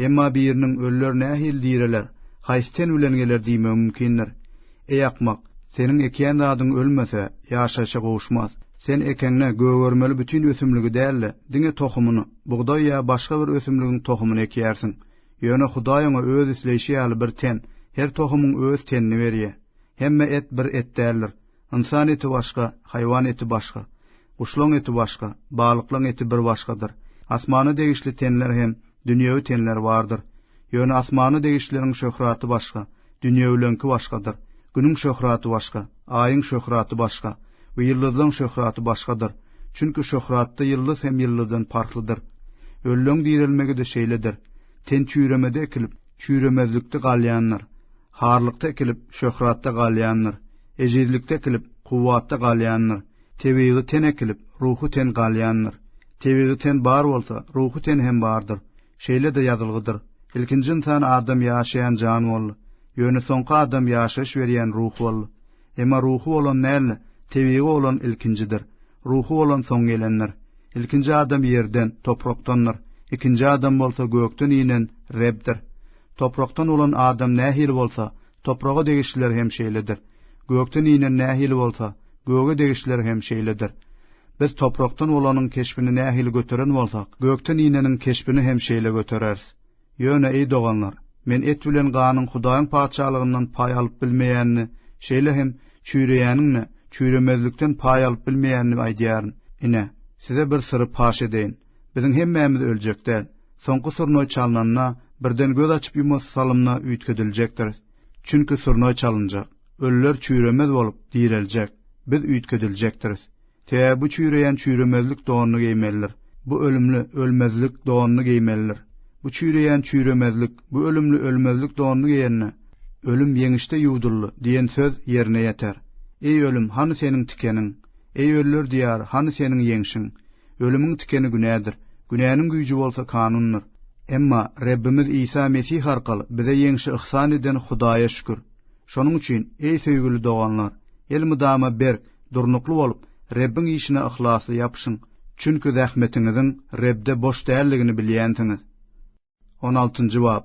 Emma biriniň, Ölüler nähili direler? Haýsy ten bilen geler diýmegi mümkindir. Eý akmak, seniň ekýän zadyň ölmese, ýaşaýşa gowuşmaz. Sen ekeňde gögermeli bütin ösümligi däl-de, diňe tohumyny, bugdaý ýa başga bir ösümligiň tohumyny ekýärsiň. Ýöne Hudaý oňa öz isleýşi ýaly bir ten, her tohumyň öz tenini berýär. Hemme et bir et däldir. Ynsan eti başga, haýwan eti başga. Guşlaň eti başga, balyklaň eti bir başgadyr. Asmana degişli tenler hem dünýewi tenler bardyr. Ýöne asmana degişlileriň şöhraty başga, dünýewileňki başgadyr. Günüň şöhraty başga. Aýyň şöhraty başga we ýyldyzlaň şöhraty başgadyr, çünki şöhratda ýyldyz hem ýyldyzdan parhlydyr. Ölleň direlmegi-de şeýledir. Ten çüýremede ekilip, çüýremezlikde galýandyr. Harlykda ekilip, şöhratda galýandyr. Ejizlikde ekilip, kuwwatda galýandyr. Tebigy ten ekilip, ruhy ten galýandyr. Tebigy ten bar bolsa, ruhy ten hem bardyr. Şeýle-de ýazylgydyr, Ilkinji ynsan adam ýaşaýan jan boldy, ýöne soňky adam ýaşaýyş berýän ruh boldy. Emma ruhy bolan däl-de, tebigy bolan ilkinjidir, ruhy bolan soň gelendir. Ilkinji adam ýerden, toprakdandyr, ikinji adam bolsa gökden inen Rebdir. Toprakdan bolan adam nähili bolsa, Topraga degişliler hem şeýledir. Gökden inen nähili bolsa, göge degişliler hem şeýledir. Biz toprakdan bolanyň keşbini nähili göteren bolsak, gökden ineniň keşbini hem şeýle götereris. Ýöne, eý doganlar, men et bilen ganyň Hudaýyň Patyşalygyndan paý alyp bilmeýänini, şeýle hem çüýreýäniň-de, çüýremezlikden paý alyp bilmeýänini aýdýaryn. Ine, size bir syry paş edeýin. Biziň hemmämiz öljek däl. Soňky surnoý çalnanda, birden göz açyp-ýumasy salymda üýtgediljekdiris. Çünki surnoý çalynjak. Ölüler çüýremez bolup, direljek. Biz üýtgediljekdiris. Sebäbi bu çüýreýän çüýremezlik donuny geýmelidir. Bu ölümli, ölmezlik donuny geýmelidir. Bu çüýreýän çüýremezlik, bu ölümli ölmezlik donuny geýende, Ölüm ýeňişde ýuwduldy diýen söz ýerine ýeter. Eý, ölüm, hany seniň tikeniň? Eý, ölüler diýary, hany seniň ýeňşiň? Ölümiň tikeni günädir. Günäniň güýji bolsa kanundyr. Emma Rebbimiz Isa Mesih arkaly bize ýeňşi yhsan eden Hudaýa şükür! Şonuň üçin, eý söýgüli doganlar, elmydama berk, durnukly bolup, Rebbiň işine yhlasly ýapyşyň. Çünki zähmetiňiziň Rebde boş däldigini bilýänsiňiz. On altynjy bap.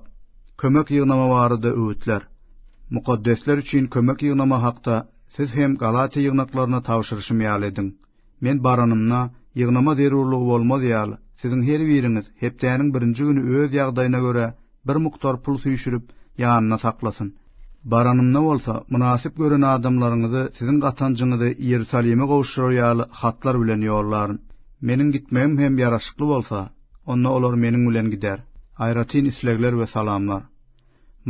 Kömek ýygnama barada öwütler. Mukaddesler üçin kömek ýygnama hakda siz hem Galatiýa ýygnaklaryna tabşyryşym ýaly ediň. Men baranymda, ýygnama zerurlygy bolmaz ýaly, siziň her biriňiz hepdäniň birinji güni öz ýagdaýyna görä bir mukdar pul süýşürip, ýanynda saklasyn. Baranymda bolsa, mynasyp gören adamlaryňyzy siziň gatanjyňyzy Iýerusalime gowuşdyrar ýaly hatlar bilen ýollaryn. Meniň gitmegim hem ýaraşykly bolsa, onda olar meniň bilen gider. Aýratyn islegler we salamlar.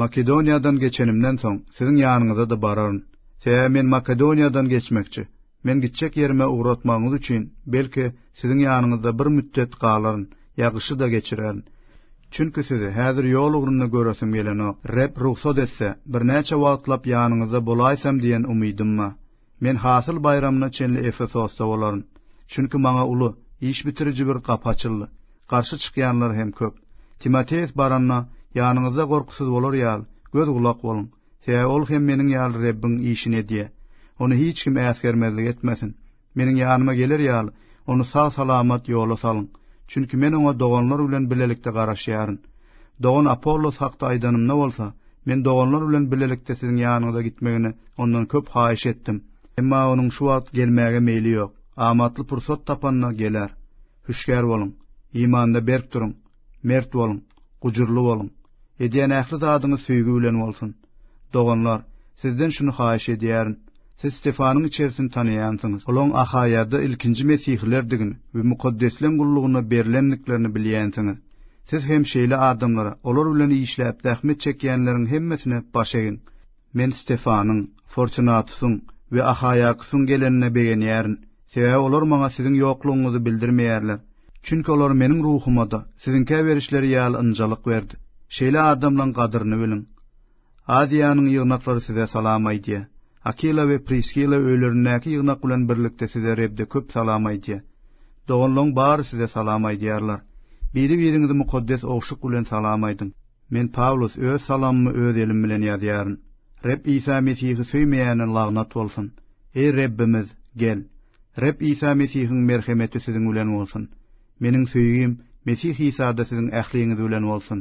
Makedoniýadan geçenimden soň, siziň ýanyňyza-da bararyn. Sebäbi men Makedoniýadan geçmekçi. Men gitjek ýerime ugratmagyňyz üçin, belki, siziň ýanyňyzda bir mütdet galaryn, ýa gyşy-da geçirerin. Çünki sizi häzir ýol ugrunda göresim gelenok. Reb rugsat etse, birnäçe wagtlap ýanyňyzda bolaýsam diýen umydym bar. Men Hasyl baýramyna çenli Efesosda bolaryn, çünki maňa uly, iş bitiriji bir gapy açyldy, garşy çykýanlar hem köp. Timoteos baranda, ýanyňyzda gorkusyz bolar ýaly, göz-gulak boluň, sebäbi ol hem meniň ýaly Rebbiň işini edýär. Ony hiç kim äsgermezlik etmesin. Meniň ýanyma geler ýaly, ony sag-salamat ýola salyň, çünki men oňa doganlar bilen bilelikde garaşýaryn. Dogan Apollos hakda aýdanymda bolsa, Men doganlar bilen birlikde siziň ýanyňyza gitmegini ondan köp haýyş etdim. Emma onuň şu wagt gelmäge meýli ýok. Amatly pursat tapanda geler. Hüşgär boluň. Imanda berk duruň. Mert boluň. Gujurly boluň. Edýän ähli zadyňyz söýgi bilen bolsun. Doganlar, sizden şuny haýyş edýärin. Siz Stefanyň içerisini tanaýansyňyz. Olaň Ahaýada ilkinji mesihilerdigini we mukaddesleň gullugyna berlendiklerini bilýänsiňiz. Siz hem şeýle adamlara, olar bilen işläp zähmet çekýänleriň hemmesine baş egiň. Men Stefanyň, Fortunatusyň we Ahaýakusyň gelenine begenýärin, sebäbi olar maňa siziň ýoklugyňyzy bildirmeýärler. Çünki olar meniň ruhuma-da, siziňkä berişleri ýaly ynjalyk berdi. Şeýle adamlaň gadyryny biliň. Aziýanyň ýygnaklary size salam aýdýar. Akila we Priskila öýlerindäki ýygnak bilen birlikde size Rebde köp salam aýdýar. Doganlaň bary size salam aýdýarlar. Biri-biriňizi mukaddes ogşuk bilen salam aýdyň. Men Pawlus öz salamymy öz elim bilen ýazýaryn. Reb Isa Mesihi söýmeýäne lagnat bolsun. Eý Rebbimiz, gel. Reb Isa Mesihiň merhemeti siziň bilen bolsun. Meniň söýgim Mesih Isada siziň ähliňiz bilen bolsun.